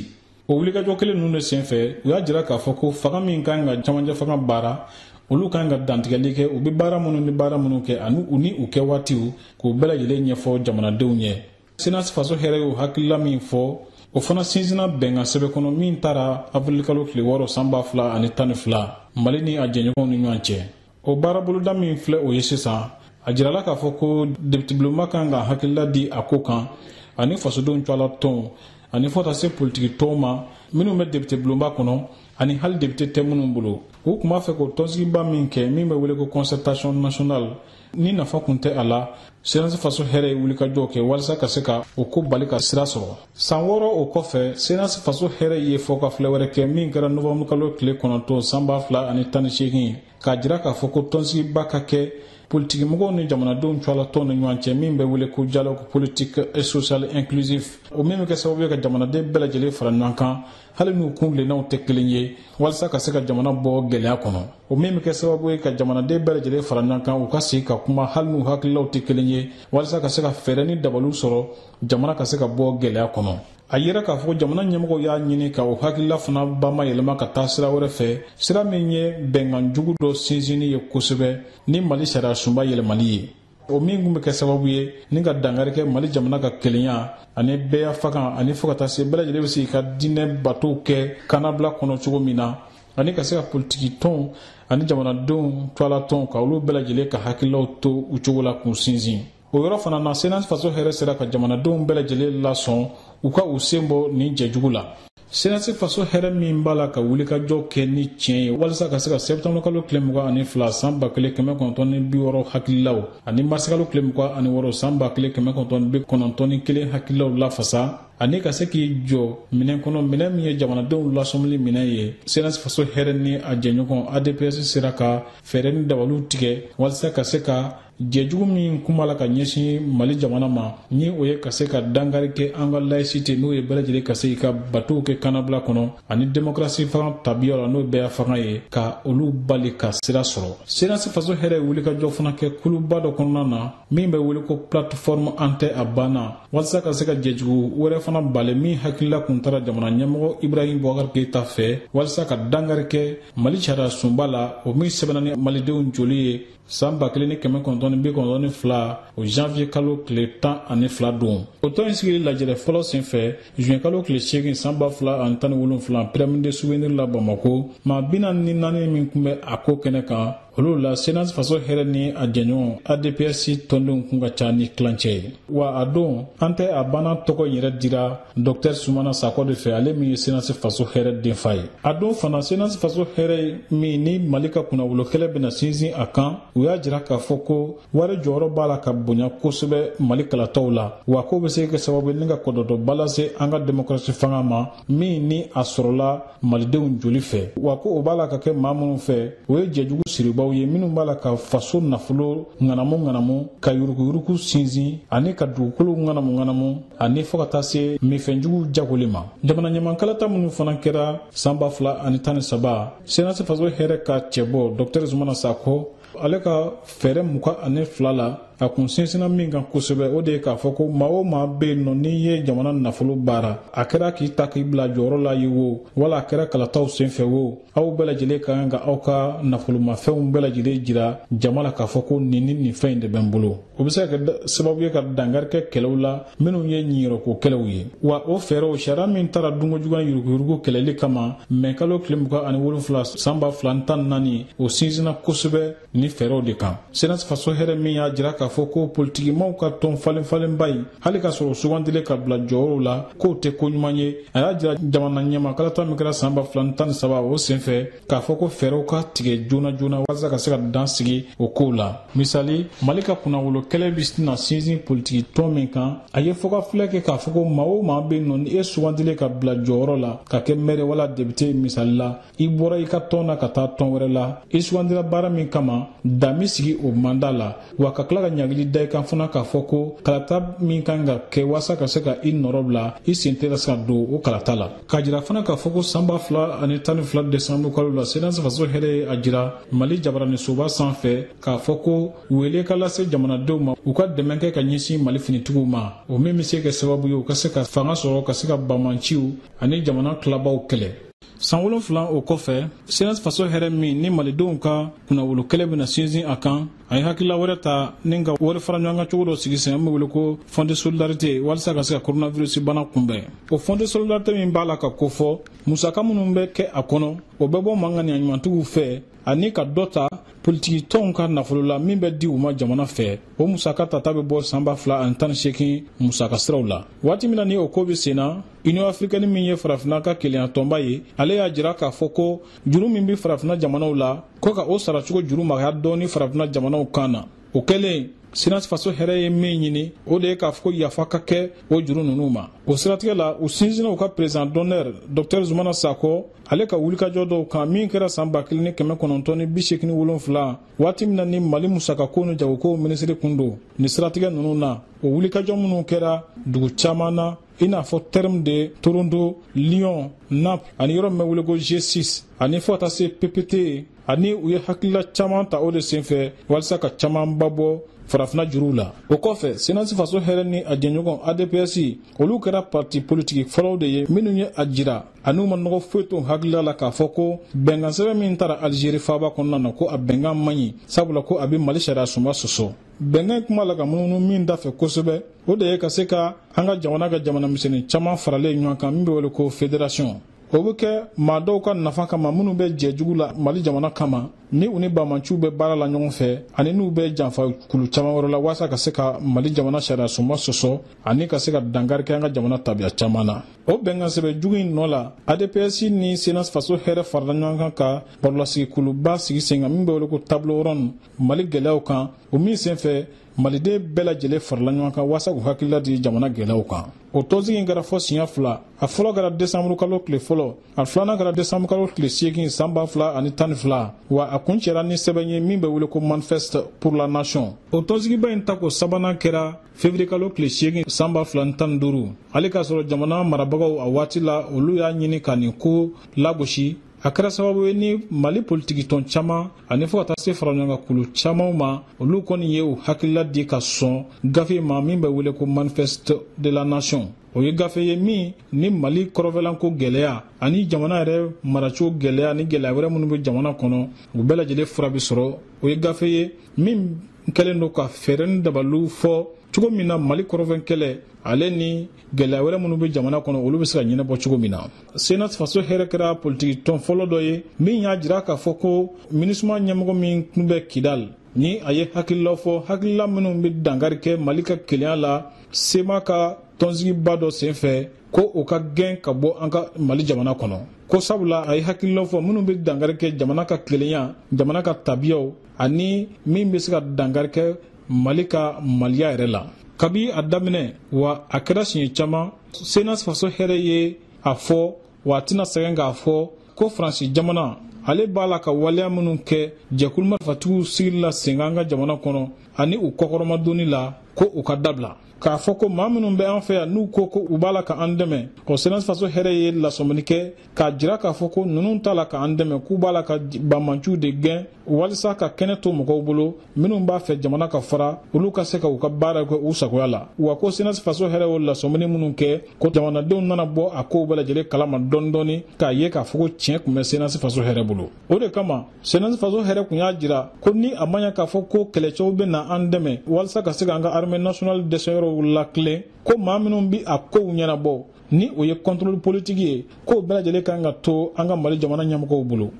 o wulikajɔ kelen ninnu de senfɛ u y'a jira k'a fɔ ko fanga min kan ka cɛmancɛfanga baara olu kan ka dantigɛli kɛ u bɛ baara minnu ni baara minnu kɛ ani u ni u kɛwaatiw k'u bɛɛ lajɛlen ɲɛfɔ jamanadenw ye senasi faso hɛrɛ y'o hakilila min fɔ o fana sinsinna bɛnkan sɛbɛn kɔnɔ min tara awirilikalo tile wɔɔrɔ san ba fila ani tan ni fila mali ni a jɛɲɔgɔnw ni ɲɔgɔn cɛ o baaraboloda min filɛ o ye sisan a jirala k'a fɔ ko depitebulonba kan ka hakilila di a ko kan ani fasodenw tɔgɔla tɔnw ani fo taa se politiki tɔnw ma minnu bɛ depitebulonba kɔnɔ ani hali depite tɛ minnu bolo u tun b'a fɛ k'o tɔnsigiba min kɛ min bɛ wele ko concertation nationale ni nafa kun tɛ a la senasi faso hɛrɛ ye wulikajɔw kɛ walisa ka se ka o ko bali ka sira sɔrɔ san wɔɔrɔ o kɔfɛ senasi faso hɛrɛ ye fɔ ka filɛ wɛrɛ kɛ min kɛra nowanburukalo tile kɔnɔntɔn san ba fila ani tan ni seegin k'a jira k'a fɔ ko tɔnsigiba ka kɛ politikimɔgɔw ni jamanadenw tɔgɔlatɔn ni ɲɔgɔn cɛ min bɛ wele ko dialogue politique et social inclusif o min bɛ kɛ sababu ye ka jamanaden bɛɛ lajɛlen fara ɲɔgɔn kan hali n'u kuntilennaw tɛ kelen ye walisa ka se ka jamana bɔ gɛlɛya kɔnɔ o min bɛ kɛ sababu ye ka jamanaden bɛɛ lajɛlen fara ɲɔgɔn kan u ka sigi ka kuma hali n'u hakililaw tɛ kelen ye walisa ka se ka fɛɛrɛ ni dabaliw sɔrɔ jamana ka se ka bɔ gɛlɛya kɔnɔ a yera k'a fɔ jamana ɲɛmɔgɔw y'a ɲini ka o hakilila fana bamayɛlɛma ka taa sira wɛrɛ fɛ sira min ye bɛnkan jugu dɔ sinsinni ye kosɛbɛ ni mali sariyasunba yɛlɛmali ye o min kun bɛ kɛ sababu ye ni ka dankari kɛ mali jamana ka kelenya ani bɛɛyafanga ani fo ka taa se bɛɛ lajɛlen bɛ se ka diinɛ batow kɛ kannabila kɔnɔ cogo min na ani ka se ka politiki tɔnw ani jamanadenw tɔgɔla tɔnw ka olu bɛɛ lajɛlen ka hakililaw to u cogo la k'u sinsin o yɔrɔ fana na senasi faso hɛrɛ sera ka jamanadenw bɛɛ lajɛlen lasɔn u ka u sen bɔ nin jɛjugu la senasi faso hɛrɛ min b'a la ka wulikajɔ kɛ ni tiɲɛ ye walisa ka se ka sɛptanburu kalo tile mugan ani fila san ba kelen kɛmɛ kɔnɔntɔn ni bi wɔɔrɔ hakililaw ani marisikalo tile mugan ani wɔɔrɔ san ba kelen kɛmɛ kɔnɔntɔn bi kɔnɔntɔn ni kelen hakililaw lafasa ani ka se k'i jɔ minɛn kɔnɔ minɛn min ye jamanadenw lasɔmili minɛn ye senasi faso hɛrɛ ni a jɛɲɔgɔn adps sera ka fɛɛrɛ ni dabaliw tigɛ walisa ka se ka jɛjugu min kun b'a la ka ɲɛsin mali jamana ma ni o ye ka se ka dankari kɛ an ka layisite n'o ye bɛɛ lajɛlen ka se ka batow kɛ kannabila kɔnɔ ani demokrasi fanga tabiya la n'o bɛɛyafanga ye ka olu bali ka sira sɔrɔ senasi faso hɛrɛ ye wulikajɔ fana kɛ kuluba dɔ kɔnɔna na min bɛ wele ko plateforme an tɛ a banna walisa ka se ka jɛjugu wɛrɛ fana bali min hakilila kun tara jamana ɲɛmɔgɔ ibrahim bubakar keyita fɛ walisa ka dankari kɛ mali sariyasunba la o min sɛbɛnna ni malidenw joli ye san ba kelen ni kɛmɛ kɔnɔntɔn ni bi kɔnɔntɔn ni fila o janvier kalo tile tan ani fila don o tɔn in sigili lajɛrɛ fɔlɔ sen fɛ juin kalo tile seegin san ba fila ani tan ni wolonfila pyramide du souvenir la bamako maa bi naani ni naani min kun bɛ a ko kɛnɛ kan olu la senasi faso hɛrɛ ni a jɛɲɔgɔn adps tɔndenw kun ka ca ni tilancɛ ye wa a dɔn an tɛ a banna tɔgɔ in yɛrɛ dira dɔktɛr sumana sakɔ de fɛ ale min ye senasi faso hɛrɛ denfa ye a dɔn fana senasi faso hɛrɛ min ni mali ka kunnawolo kɛlɛ bɛna sinsin a kan u y'a jira k'a fɔ ko wari jɔyɔrɔ b'a la ka bonya kosɛbɛ mali kalataw la wa k'o bɛ se kɛ sababu ye ni ka kɔlɔlɔba lase an ka demokrasi fanga ma min ni a sɔrɔla malidenw joli fɛ wa ko o b'a la ka kɛ maa minnu fɛ o ye jɛjugu siribaw ye minnu b'a la ka faso nafolo ŋanamu ŋanamu ka yuruguyurugu sinsin ani ka dugukolo ŋanamu ŋanamu ani fɔɔ ka taa se minfɛnjugu jagoli ma jamana ɲɛma kalata minnu fana kɛra sanba fila ani tan ni saba senasi faso hɛrɛ ka cɛbɔ dɔktɛri zumana sakɔ ale ka fɛɛrɛ mugan ani fila la a kun sinsinna min kan kosɛbɛ o de ye k'a fɔ ko maa o maa bɛ yen nɔ n'i ye jamana nafolo baara a kɛra k'i ta k'i bila jɔyɔrɔ la ye wo wala a kɛra kalataw senfɛ wo aw bɛɛ lajɛlen ka kan ka aw ka nafolomafɛnw bɛɛ lajɛlen jira jama la k'a fɔ ko nin ni nin fɛn in de bɛ n bolo o bɛ se ka kɛ sababu ye ka dankari kɛ kɛlɛw la minnu ye ɲiyɔrɔko kɛlɛw ye wa o fɛɛrɛw sariya min taara dunkojuguya yuruguyurugu kɛlɛli kama mɛ kalo tile mugan ani wolonfila san ba fila ni tan ni naani o sinsinna kosɛbɛ nin fɛɛrɛw de kan senasi faso hɛrɛ min y'a jira k'a fɔ ko politikimaw ka tɔn falenfalenba ye hali k'a sɔrɔ sugandilen ka bila jɔyɔrɔw la k'o tɛ ko ɲuman ye a y'a jira jamana ɲɛma kalata min kɛra san ba fila ni tan ni saba o senfɛ k'a fɔ ko fɛɛrɛw ka tigɛ joona joona walasa ka se ka dan sigi o kow la misali mali ka kunnawolo kɛlɛ bɛna sinsin politiki tɔn min kan a ye fɔkafilɛ kɛ k'a fɔ ko maa o maa bɛ nɔ ni e sugandilen ka bila jɔyɔrɔ la ka kɛ mɛri wala depite ye misali la i bɔra i ka tɔn na ka taa tɔn wɛrɛ la i sugandira baara min kama dan bɛ sigi o manda la wa ka tila ka ɲangili da i kan fana k'a fɔ ko kalata min ka kan ka kɛ waasa ka se ka i nɔrɔ bila i sen tɛna se ka don o kalata la k'a jira fana k'a fɔ ko san ba fila ani tan ni fila desanburu kalo la senasi faso hɛrɛ ye a jira mali jabaraninsoba sanfɛ k'a fɔ ko wele ka lase jamanadenw ma u ka dɛmɛ kɛ ka ɲɛsin mali finitigiw ma o min bɛ se kɛ sababu ye u ka se ka fanga sɔrɔ ka se ka banbaanciw ani jamana tilabaw kɛlɛ san wolonfila o kɔfɛ senasi faso hɛrɛ min ni malidenw ka kunnawolo kɛlɛ bɛna sinsin a kan a ye hakilila wɛrɛ ta ni ka wari fara ɲɔgɔn kan cogo dɔ sigi sen an bɛ wele ko fonds de solidarité walisa ka se ka coronavirus bana kunbɛn o fonds de solidarité min b'a la ka kofɔ musaka minnu bɛ kɛ a kɔnɔ o bɛ bɔ maa ŋaniya ɲumantigiw fɛ ani ka dɔ ta politiki tɔnw ka nafolo la min bɛ di u ma jamana fɛ o musaka tata bɛ bɔ sanba fila ani tan ni seegin musaka siraw la waati min na ni o ko bɛ sen na union africaine min ye farafina ka kelenya tɔnba ye ale y'a jira k'a fɔ ko juru min bɛ farafina jamanaw la ko ka o saracogo juru magaya dɔɔni farafina jamanaw kan na o kɛlen cnas faso hɛrɛ ye min ɲini o de ye k'a fɔ ko yafa ka kɛ o juru ninnu ma o siratigɛ la u sinsinna u ka président d'honneur docteur zumana sakɔ ale ka wulikajɔ dɔw kan min kɛra san ba kelen ni kɛmɛ kɔnɔntɔn ni bi seegin wolonfila waati min na ni mali musakako ni jagokow minisiri kun don nin siratigɛ ninnu na o wulikajɔ minnu kɛra dugu caman na i n'a fɔ terme de toronto lyon naples ani yɔrɔ min bɛ wele ko g6 ani fɔ ka taa se ppte ani u ye hakilila caman ta o de senfɛ walisa ka camanba bɔ farafina juruw la o kɔfɛ cnas faso hɛrɛ ni a jɛɲɔgɔn adps olu kɛra parti politiki fɔlɔw de ye minnu ye a jira an'u ma nɔgɔ foyi to u hakilila la k'a fɔ ko bɛnkansɛbɛn min tara alizeri faaba kɔnɔna na ko a bɛnkan man ɲi sabula ko a bɛ mali sariyasunba sɔsɔ bɛnkan kuma la ka munumunu min dafɛ kosɛbɛ o de ye ka se ka an ka jamana kɛ jamana misɛnnin caman faralen ɲɔgɔn kan min bɛ wele ko fédération o bɛ kɛ maa dɔw ka nafa kama minnu bɛ jɛ jugu la mali jamana kama ni u ni banbaanciw bɛ baara la ɲɔgɔn fɛ ani n'u bɛ janfa kulu caman wɛrɛ la walasa ka se ka mali jamana sariyasunba sɔsɔ ani ka se ka dankari kɛ an ka jamana tabiya caman na o bɛnkansɛbɛn jugu in nɔ la adps ni cnas faso hɛrɛ farala ɲɔgɔn kan ka barolasigikuluba sigi sen kan min bɛ wele ko table ronde mali gɛlɛyaw kan o min senfɛ maliden bɛɛ lajɛlen farala ɲɔgɔn kan waasa k'u hakilila di jamana gɛlɛyaw kan o tɔnsigi in kɛra fɔ siɲɛ fila a fɔlɔ kɛra desanburu kalo tile fɔlɔ a filanan kɛra desanburu kalo tile seegin san ba fila ani tan ni fila wa a kuncɛra ni sɛbɛn ye min bɛ wele ko manifeste pour la nation o tɔnsigiba in tako sabanan kɛra fevriye kalo tile seegin san ba fila ni tan ni duuru hali k'a sɔrɔ jamana marabagaw a waati la olu y'a ɲini ka nin ko lagosi a kɛra sababu ye ni mali politikitɔn caman ani fɔ ka taa se faraɲɔgɔnkankulu camanw ma olu kɔni ye u hakilila di ka sɔn gafe ma min bɛ wele ko manifeste de la nation o ye gafe ye min ni mali kɔrɔnfɛlako gɛlɛya ani jamana yɛrɛ maracogo gɛlɛya ani gɛlɛya wɛrɛ minnu bɛ jamana kɔnɔ u bɛɛ lajɛlen fura bɛ sɔrɔ o ye gafe ye min kɛlen don ka fɛɛrɛ ni dabaliw fɔ cogo min na mali kɔrɔnfɛ kɛlɛ ale ni gɛlɛya wɛrɛ minnu bɛ jamana kɔnɔ olu bɛ se ka ɲɛnabɔ cogo min na cnas faso hɛrɛ kɛra politiki tɔn fɔlɔ dɔ ye min y'a jira k'a fɔ ko minusma ɲɛmɔgɔ min tun bɛ kidal ni a ye hakililaw fɔ hakilila minnu bɛ dankari kɛ mali ka kelenya la cma ka tɔnsigiba dɔ senfɛ ko o ka gɛn ka bɔ an ka mali jamana kɔnɔ ko sabula a ye hakililaw fɔ minnu bɛ dankari kɛ jamana ka kelenya jamana ka tabiyaw ani min bɛ se ka dankari kɛ mali ka maliya yɛrɛ la kabi a daminɛ wa a kɛra siɲɛ caman cnas faso hɛrɛ ye a fɔ wa a tɛna sɛgɛn k'a fɔ ko faransi jamana ale b'a la ka waleya minnu kɛ jɛkulu marifatigiw sigili la sen kan an ka jamana kɔnɔ ani u kɔkɔrɔmadonni la ko u k'a dabila k'a fɔ ko maa minnu bɛ an fɛ yan n'u ko ko u b'a la ka an dɛmɛ o cnas faso hɛrɛ ye lasɔmini kɛ k'a jira k'a fɔ ko ninnu t'a la k'an dɛmɛ k'u b'a la ka banmanciw de gɛn walisa ka kɛnɛ to mɔgɔw bolo minnu b'a fɛ jamana ka fara olu ka se ka u ka baara kɛ u sagoya la wa ko cnas faso hɛrɛ y'o lasɔmini minnu kɛ ko jamanadenw nana bɔ a kow bɛɛ lajɛlen kalama dɔɔni dɔɔni k'a ye k'a fɔ ko tiɲɛ tun bɛ cnas faso hɛrɛ bolo o de kama cnas faso hɛrɛ tun y'a jira ko ni a ma ɲɛ k'a fɔ ko kɛlɛcɛw bɛ na an dɛmɛ walisa ka se k'an ka armée nationale dɛsɛyɔrɔw latilen ko maa minnu bi a kow ɲɛnabɔ ni o ye contrôle politique ye k'o bɛɛ lajɛlen kan ka to an ka mali jamana ɲɛmɔgɔw bolo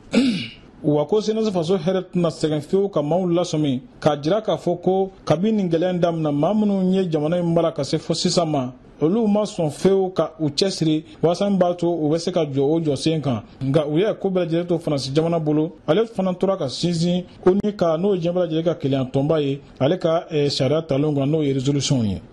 wa ko cnas faso hɛrɛ tɛna sɛgɛn fewu ka maaw lasɔmi k'a jira k'a fɔ ko kabi nin gɛlɛya damina maa minnu ye jamana in mara ka se fo sisan ma olu ma sɔn fewu ka u cɛsiri walasa min b'a to u bɛ se ka jɔ o jɔsen kan nka u y'a ko bɛɛ lajɛlen to faransi jamana bolo ale fana tora ka sinsin onu ka n'o ye diɲɛ bɛɛ lajɛlen ka kelenyatɔnba ye ale ka eh, sariya talen kan n'o ye résolution ye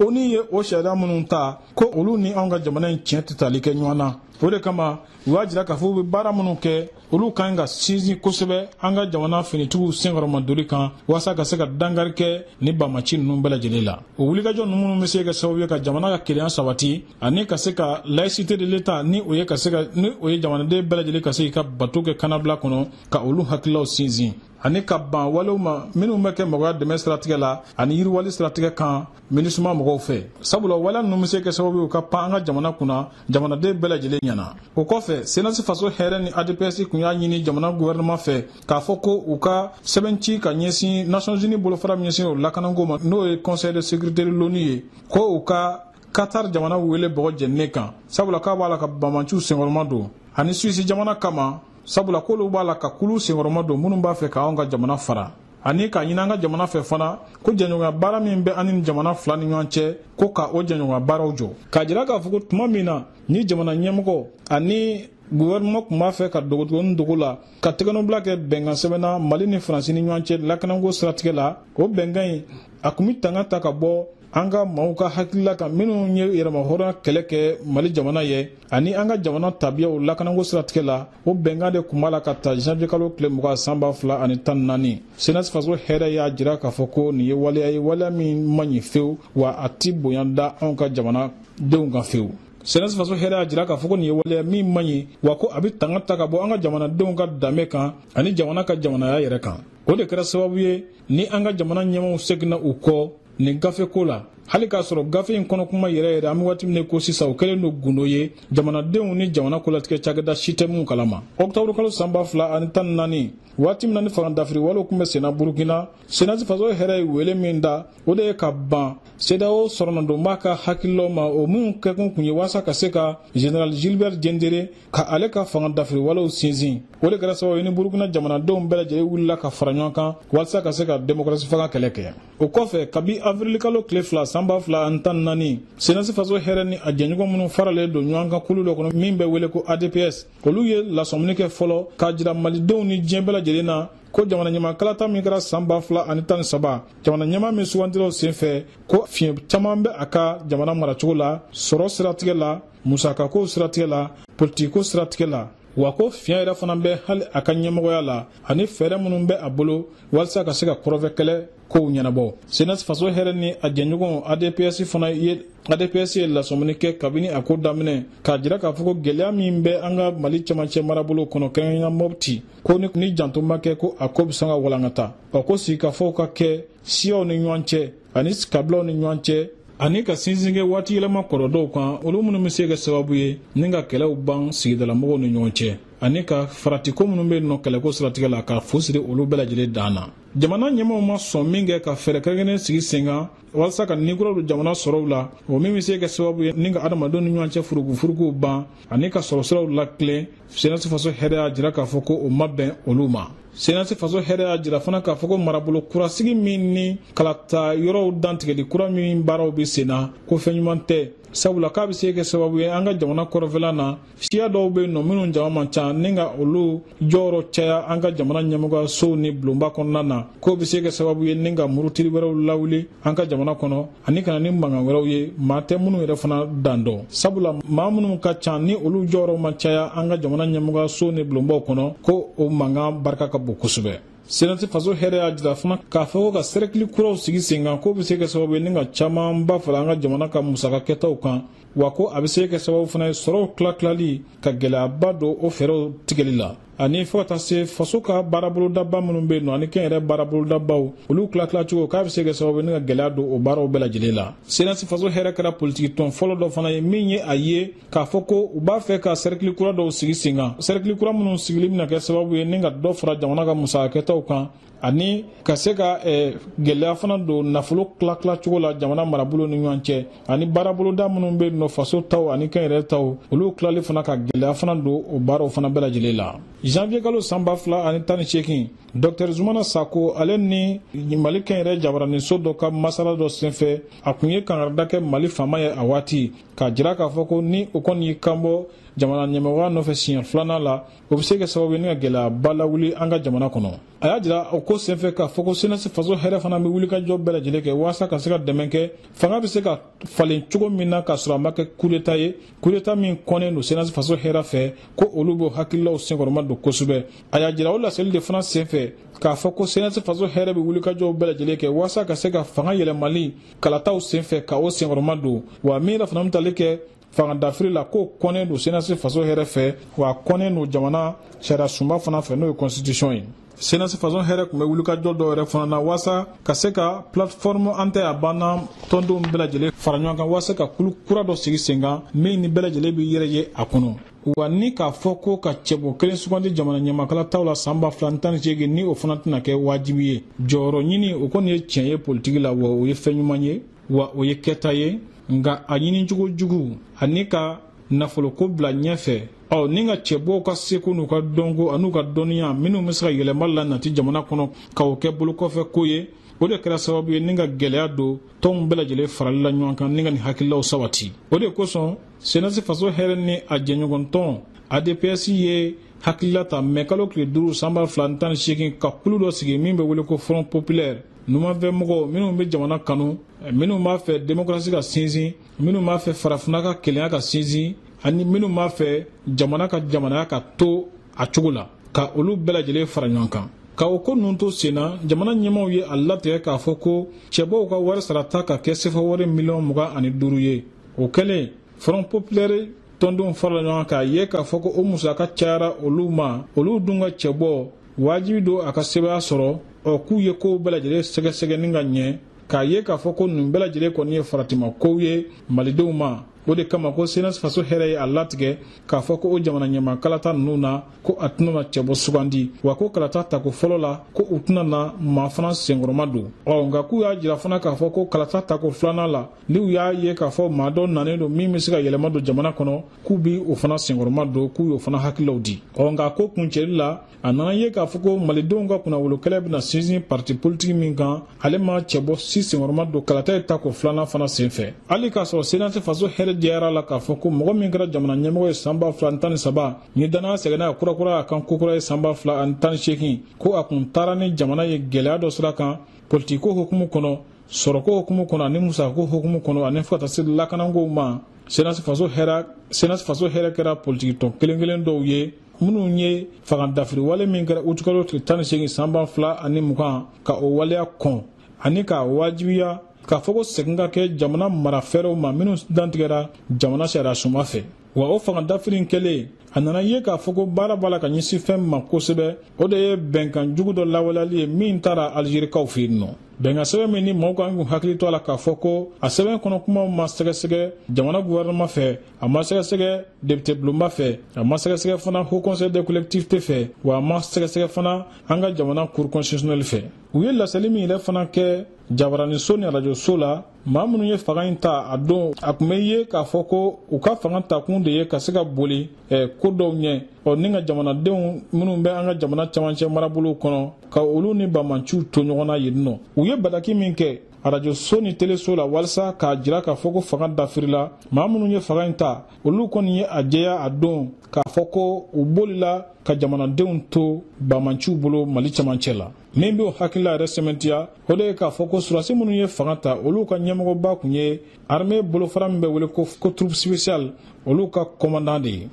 onu ye o sariya minnu ta ko olu ni anw ka jamana in tiɲɛ tɛ tali kɛ ɲɔgɔn na o de kama u y'a jira k'a fɔ u bɛ baara minnu kɛ olu ka ɲi ka sinsin kosɛbɛ an ka jamana finitigiw senkɔrɔmadonni kan walasa ka se ka dankari kɛ nin banmanci ninnu bɛɛ lajɛlen la o wulikajɔ ninnu minnu bɛ se kɛ sababu ye ka jamana ka kelenya sabati ani ka se ka laïcité de l'état ni o ye jamanaden bɛɛ lajɛlen ka se k'i ka bato kɛ kannabila kɔnɔ ka olu hakililaw sinsin ani ka ban walew ma minnu bɛ kɛ mɔgɔya dɛmɛ siratigɛ la ani yiriwali siratigɛ kan minusma mɔgɔw fɛ sabula waleya ninnu bɛ se kɛ sababu ye u ka pan an ka jamana kunna jamanaden bɛɛ lajɛlen ɲɛna o kɔfɛ cnas faso hɛrɛ ni adps tun y'a ɲini jamana guvɛrɛnɛman fɛ k'a fɔ ko u ka sɛbɛnci ka ɲɛsin nations unies bolofara min ɲɛsin o lakanako ma n'o ye conseil de sécurité de l'onu ye ko u ka qatar jamana wele bɔgɔ jɛninen kan sabula k'a b'a la ka banmanciw senkɔrɔma don ani suisse jamana kama sabula k'olu b'a la ka kulu senkɔrɔma don minnu b'a fɛ k'anw ka jamana fara ani k'a ɲini an ka jamana fɛ fana ko jɛɲɔgɔnya baara min bɛ an ni jamana fila ni ɲɔgɔn cɛ ko ka o jɛɲɔgɔnya baaraw jɔ k'a jira k'a fɔ ko tuma min na ni jamana ɲɛmɔgɔ ani guvɛrɛnɛman tun b'a fɛ ka dogodogonin dogo la ka tɛgɛnɔbila kɛ bɛnkan sɛbɛn na mali ni faransi ni ɲɔgɔn cɛ lakanako siratigɛ la o bɛnkan in a tun bɛ tanga ta ka bɔ an ka maaw ka hakilila kan minnu ye yɛrɛmahɔrɔnya kɛlɛ kɛ mali jamana ye ani an ka jamana tabiyaw lakanako siratigɛ la o bɛnkan de kun b'a la ka ta janvier kalo tile mugan san ba fila ani tan naani senasi faso hɛrɛ y'a jira k'a fɔ ko nin ye waleya ye waleya min man ɲi fewu wa a ti bonya da anw ka jamanadenw kan fewu senasi faso hɛrɛ y'a jira k'a fɔ ko nin ye waleya min man ɲi wa ko a bɛ tanga ta ka bɔ an ka jamanadenw ka danbe kan ani jamana ka jamanaya yɛrɛ kan o de kɛra sababu ye ni an ka jamana ɲɛmaaw seginna u kɔ nin gafe ko la hali k'a sɔrɔ gafe in kɔnɔ kuma yɛrɛ yɛrɛ an bɛ waati min ko sisan o kɛlen don gundo ye jamanadenw ni jamana kolatigɛ cakɛda si tɛ min kalama ɔkutɔburu kalo san ba fila ani tan naani waati min na ni fanga dafiri walew tun bɛ senna burukina senasi faso hɛrɛ ye wele min da o de ye ka ban cedeao sɔrɔnadonba ka hakililaw ma o minnu kɛkun kun ye walasa ka se ka général gilbert diendéré ka ale ka fanga dafiri walew sinsin o de kɛra sababu ye ni burukina jamanadenw bɛɛ lajɛlen wulila ka fara ɲɔgɔn kan walisa ka se ka demokrasi fanga kɛlɛ kɛ o kɔfɛ kabi avirili kalo tile fila san ba fila ani tan ni naani senasi faso hɛrɛ ni a jɛɲɔgɔn minnu faralen don ɲɔgɔn kan kulu dɔ kɔnɔ min bɛ wele ko adps olu ye lasɔmini kɛ fɔlɔ k'a jira malidenw ni diɲɛ bɛɛ lajɛlen na ko jamana ɲɛmaa kalata min kɛra san ba fila ani tan ni saba jamana ɲɛmaa min sugandila o senfɛ ko fiɲɛ caman bɛ a ka jamana maracogo la sɔrɔ siratigɛ la musakakow siratigɛ la politikiko siratigɛ la wa ko fiɲɛ yɛrɛ fana bɛ hali a ka ɲɛmɔgɔya la ani fɛɛrɛ minnu bɛ a bolo walisa ka se ka kɔrɔnfɛ kɛlɛ kow ɲɛnabɔ senasi faso hɛrɛ ni a jɛɲɔgɔn adps fana ye adps ye lasɔmini kɛ kabini a ko daminɛ k'a jira k'a fɔ ko gɛlɛya min bɛ an ka mali cɛmancɛ marabolo kɔnɔ kɛrɛnkɛrɛnya mɔpti ko ni, ni janto ma kɛ ko a ko bɛ sɔn ka walankata wa ko sigikafɔw ka kɛ siyaw ni ɲɔgɔn cɛ ani kabilaw ni ɲɔgɔn cɛ ani ka sinsin kɛ waati yɛlɛma kɔrɔ dɔw kan olu minnu bɛ se kɛ sababu ye ni ka kɛlɛw ban sigidalamɔgɔw ni ɲɔgɔn cɛ ani ka faratiko minnu bɛ nɔ kɛlɛko siratigɛ la ka fu siri olu bɛɛ lajɛlen dan na jamana ɲɛmaaw ma sɔn minkɛ ka fɛɛrɛ kɛrɛnkɛrɛnnen sigi sen kan walasa ka ni kura don jamana sɔrɔw la o min bɛ se kɛ sababu ye ni ka adamadenw ni ɲɔgɔn cɛ furugufuruguw ban ani ka sɔrɔsiraw latilen senasi faso hɛrɛ y'a jira k'a fɔ ko o ma bɛn olu ma senasi faso hɛrɛ y'a jira fana k'a fɔ ko marabolo kurasigi min ni kalata yɔrɔw dantigɛli kura min baaraw bɛ sen na ko fɛn ɲuman tɛ sabula k'a bɛ se kɛ sababu ye an ka jamana kɔrɔnfɛla na siya dɔw bɛ yen nɔ minnu jama man ca ni ka olu jɔyɔrɔ caya an ka jamana ɲɛmɔgɔyasow ni bulonba kɔnɔna na k'o bɛ se kɛ sababu ye ni ka murutili wɛrɛw lawuli an ka jamana kɔnɔ ani ka na ni mankan wɛrɛw ye maa tɛ minnu yɛrɛ fana dan dɔn sabula maa minnu ka ca ni olu jɔyɔrɔ ma caya an ka jamana ɲɛmɔgɔyaso ni bulonbaw kɔnɔ ko o mankan barika ka bon kosɛbɛ senasi faso hɛrɛ y'a jira fana k'a fɔ ko ka sɛrɛkili kuraw sigi sen kan k'o bɛ se kɛ sababu ye ni ka camanba fara an ka jamana ka musaka kɛtaw kan wa ko a bɛ se kɛ sababu fana ye sɔrɔw tilatilali ka gɛlɛyaba don o fɛɛrɛw tigɛli la ani fɔ ka taa se faso ka baarabolodaba minnu be nɔ ani kɛnyɛrɛ baarabolodabaw olu tilatila cogo k'a be se kɛ sababu ye ni ka gwɛlɛya don o baaraw bɛɛ lajɛlen la senasi faso hɛrɛ kɛra politiki tɔn fɔlɔ dɔ fana ye min ye a ye k'a fɔ ko u b'a fɛ ka sɛrikili kura dɔw sigi sen kan sɛrikili kura minnu sigili bena kɛ sababu ye ni ka dɔ fara jamana ka musakakɛtaw kan ani ka se ka eh, gɛlɛya fana don nafolo tilatila cogo la jamana marabolo ni ɲɔgɔn cɛ ani baaraboloda minnu bɛ nɔ faso taw ani kɛnyɛrɛ taw olu tilali fana ka gɛlɛya fana don o baaraw fana bɛɛ lajɛlen la janvier kalo san ba fila ani tan ni seegin dɔktɛr zumana sako ale ni mali kɛnyɛrɛ jabaraniso dɔ ka masala dɔ senfɛ a tun ye kangarida kɛ mali faama ye a waati k'a jira k'a fɔ ko ni o kɔni y'i kanbɔ jamana ɲɛmɔgɔya nɔfɛ siɲɛ filanan la o bɛ se ka kɛ sababu ye ni ka gɛlɛyaba lawuli an ka jamana kɔnɔ a y'a jira o ko senfɛ k'a fɔ ko senasi faso hɛrɛ fana bɛ wulikajɔ bɛɛ lajɛlen kɛ walasa ka se ka dɛmɛ kɛ fanga bɛ se ka falen cogo min na k'a sɔrɔ a ma kɛ kudeta ye kudeta min kɔnnen don senasi faso hɛrɛ fɛ ko olu b'o hakililaw senkɔrɔma don kosɛbɛ a y'a jira o laseli de fana senfɛ k'a fɔ ko senasi faso hɛrɛ bɛ wulikajɔw bɛɛ lajɛlen kɛ walasa ka se ka fanga yɛlɛmali kalataw senfɛ ka o senkɔrɔma don wa min yɛrɛ fana bɛ tali kɛ fangadafiri la k'o kɔnnen don senasi faso hɛrɛ fɛ wa a kɔnnen don jamana sariya sunba fana fɛ n'o ye constitution ye senasi faso hɛrɛ tun bɛ wulikajɔ dɔ yɛrɛ fana na waasa ka se ka plateforme an tɛ a banna tɔndenw bɛɛ lajɛlen fara ɲɔgɔn kan waasa ka kulu kura dɔ sigi sen kan min ni bɛɛ lajɛlen bɛ yɛrɛ ye a kɔnɔ wa ni k'a fɔ ko ka cɛbɔ kelen sugandi jamana ɲɛmaa kalataw la san ba fila ni tan ni seegin ni o fana tɛna kɛ wajibi ye jɔyɔrɔ ɲini o kɔni ye tiɲɛ ye politiki la wa o ye fɛn ɲuman ye wa o ye kɛta ye nka a ɲinicogo jugu ani ka nafoloko bila ɲɛfɛ ɔ ni ka cɛbɔw ka seko n'u ka dɔnko an'u ka dɔnniya minnu bɛ se ka yɛlɛma lanati jamana kɔnɔ ka o kɛ bolokɔfɛ ko ye o de kɛra sababu ye ni ka gɛlɛya don tɔnw bɛɛ lajɛlen farali la ɲɔgɔn kan ni ka nin hakililaw sabati o de kosɔn senasi faso hɛrɛ ni a jɛɲɔgɔntɔn adps ye hakilila ta mɛ kalo tile duuru san ba fila ni tan ni seegin ka kulu dɔ sigi min bɛ wele ko front populaire numanfɛ mɔgɔw minnu bɛ jamana kanu minnu b'a fɛ demokarasi ka sinsin minnu b'a fɛ farafinna ka kelenya ka sinsin ani minnu b'a fɛ jamana ka jamanaya ka to a cogo la ka olu bɛɛ lajɛlen fara ɲɔgɔn kan ka o ko ninnu to sen na jamana ɲɛmaaw ye a latigɛ k'a fɔ ko cɛbɔw ka wari sarata ka kɛ sefa wari miliyɔn mugan ani duuru ye o kɛlen front populaire tɔndenw farala ɲɔgɔn kan k'a ye k'a fɔ ko o musaka cayara olu ma olu dun ka cɛbɔ wajibi don a ka sebaaya sɔrɔ ɔ k'u ye kow bɛɛ lajɛlen sɛgɛsɛgɛ ni ka ɲɛ k'a ye k'a fɔ ko nin bɛɛ lajɛlen kɔni ye faratima kow ye malidenw ma o de kama ko senasi faso hɛrɛ ye a latigɛ k'a fɔ ko o jamana ɲɛmaa kalata ninnu na ko a tɛna na cɛbɔ sugandi wa ko kalata tako fɔlɔ la ko u tɛna na maa fana senkɔrɔma don ɔ nka k'u y'a jira fana k'a fɔ ko kalata tako filanan la ni u y'a ye k'a fɔ maa dɔ nanen don min bɛ se ka yɛlɛma don jamana kɔnɔ k'u b'o fana senkɔrɔma don k'u y'o fana hakililaw di ɔ nka ko kuncɛli la a nana ye k'a fɔ ko malidenw ka kunnawolo kɛlɛ bɛna sinsin parti politiki min kan ale ma cɛbɔ si senkɔrɔma don kalata ye tako filanan fana sen fɛ hali k'a sɔrɔ senasi faso hɛrɛ diyara la k'a fɔ ko mɔgɔ min kɛra jamana ɲɛmɔgɔ ye san ba fila ni tan ni saba ni dannaya seginna ka kurakura a kan kokura ye san ba fila ani tan ni seegin ko a kun taara ni jamana ye gɛlɛya dɔ sira kan politikiko hukumu kɔnɔ sɔrɔko hukumu kɔnɔ ani musako hukumu kɔnɔ ani fo ka taa se lakanakow ma senasi faso hɛrɛ kɛra politikitɔn kelen kelen dɔw ye minnu ye fangadafiri wale min kɛra utukalo tile tan ni seegin san ba fila ani mugan ka o waleya kɔn ani k'a wajibiya k'a fɔ ko segin ka kɛ jamana mara fɛɛrɛw ma minnu dantigɛra jamana sariyasunba fɛ wa o fanga dafiri in kɛlen a nana ye k'a fɔ ko baara b'a la ka ɲɛsin fɛn ma kosɛbɛ o de ye bɛnkan jugu dɔ lawaleyali ye min tara alizerikaw fɛ yen nɔ bɛnkan sɛbɛn min ni mɔgɔw kan k'u hakili to a la k'a fɔ ko a sɛbɛn kɔnɔ kumaw ma sɛgɛsɛgɛ jamana guvɛrɛnɛman fɛ a ma sɛgɛsɛgɛ depitebulonba fɛ a ma sɛgɛsɛgɛ fana haut conseil des collectivités fɛ wa a ma sɛgɛsɛgɛ fana an ka jamana cour constitutionnelle fɛ u ye laseli min yɛrɛ fana kɛ jabaraniso ni arajoso la maa minnu ye fanga in ta a don a tun bɛ ye k'a fɔ ko u ka fanga takun de ye ka se ka boli eh, ko dɔw ɲɛ ɔ ni ka jamanadenw minnu bɛ an ka jamana camancɛ marabolow kɔnɔ ka olu ni bamanciw to ɲɔgɔn na yen nɔ u ye bataki min kɛ arajo so ni teleso la walisa k'a jira k'a fɔ ko fanga dafirila maa minnu ye fanga in ta olu kɔni ye a jɛya a don k'a fɔ ko u bolila ka jamanadenw to bamanciw bolo mali camancɛ la min b'o hakilila yɛrɛ sɛmɛntiya o de ye k'a fɔ ko surasi minnu ye fanga ta olu ka ɲɛmɔgɔba tun ye armée bolofara min bɛ wele ko troupe spéciale olu ka kɔmandan de ye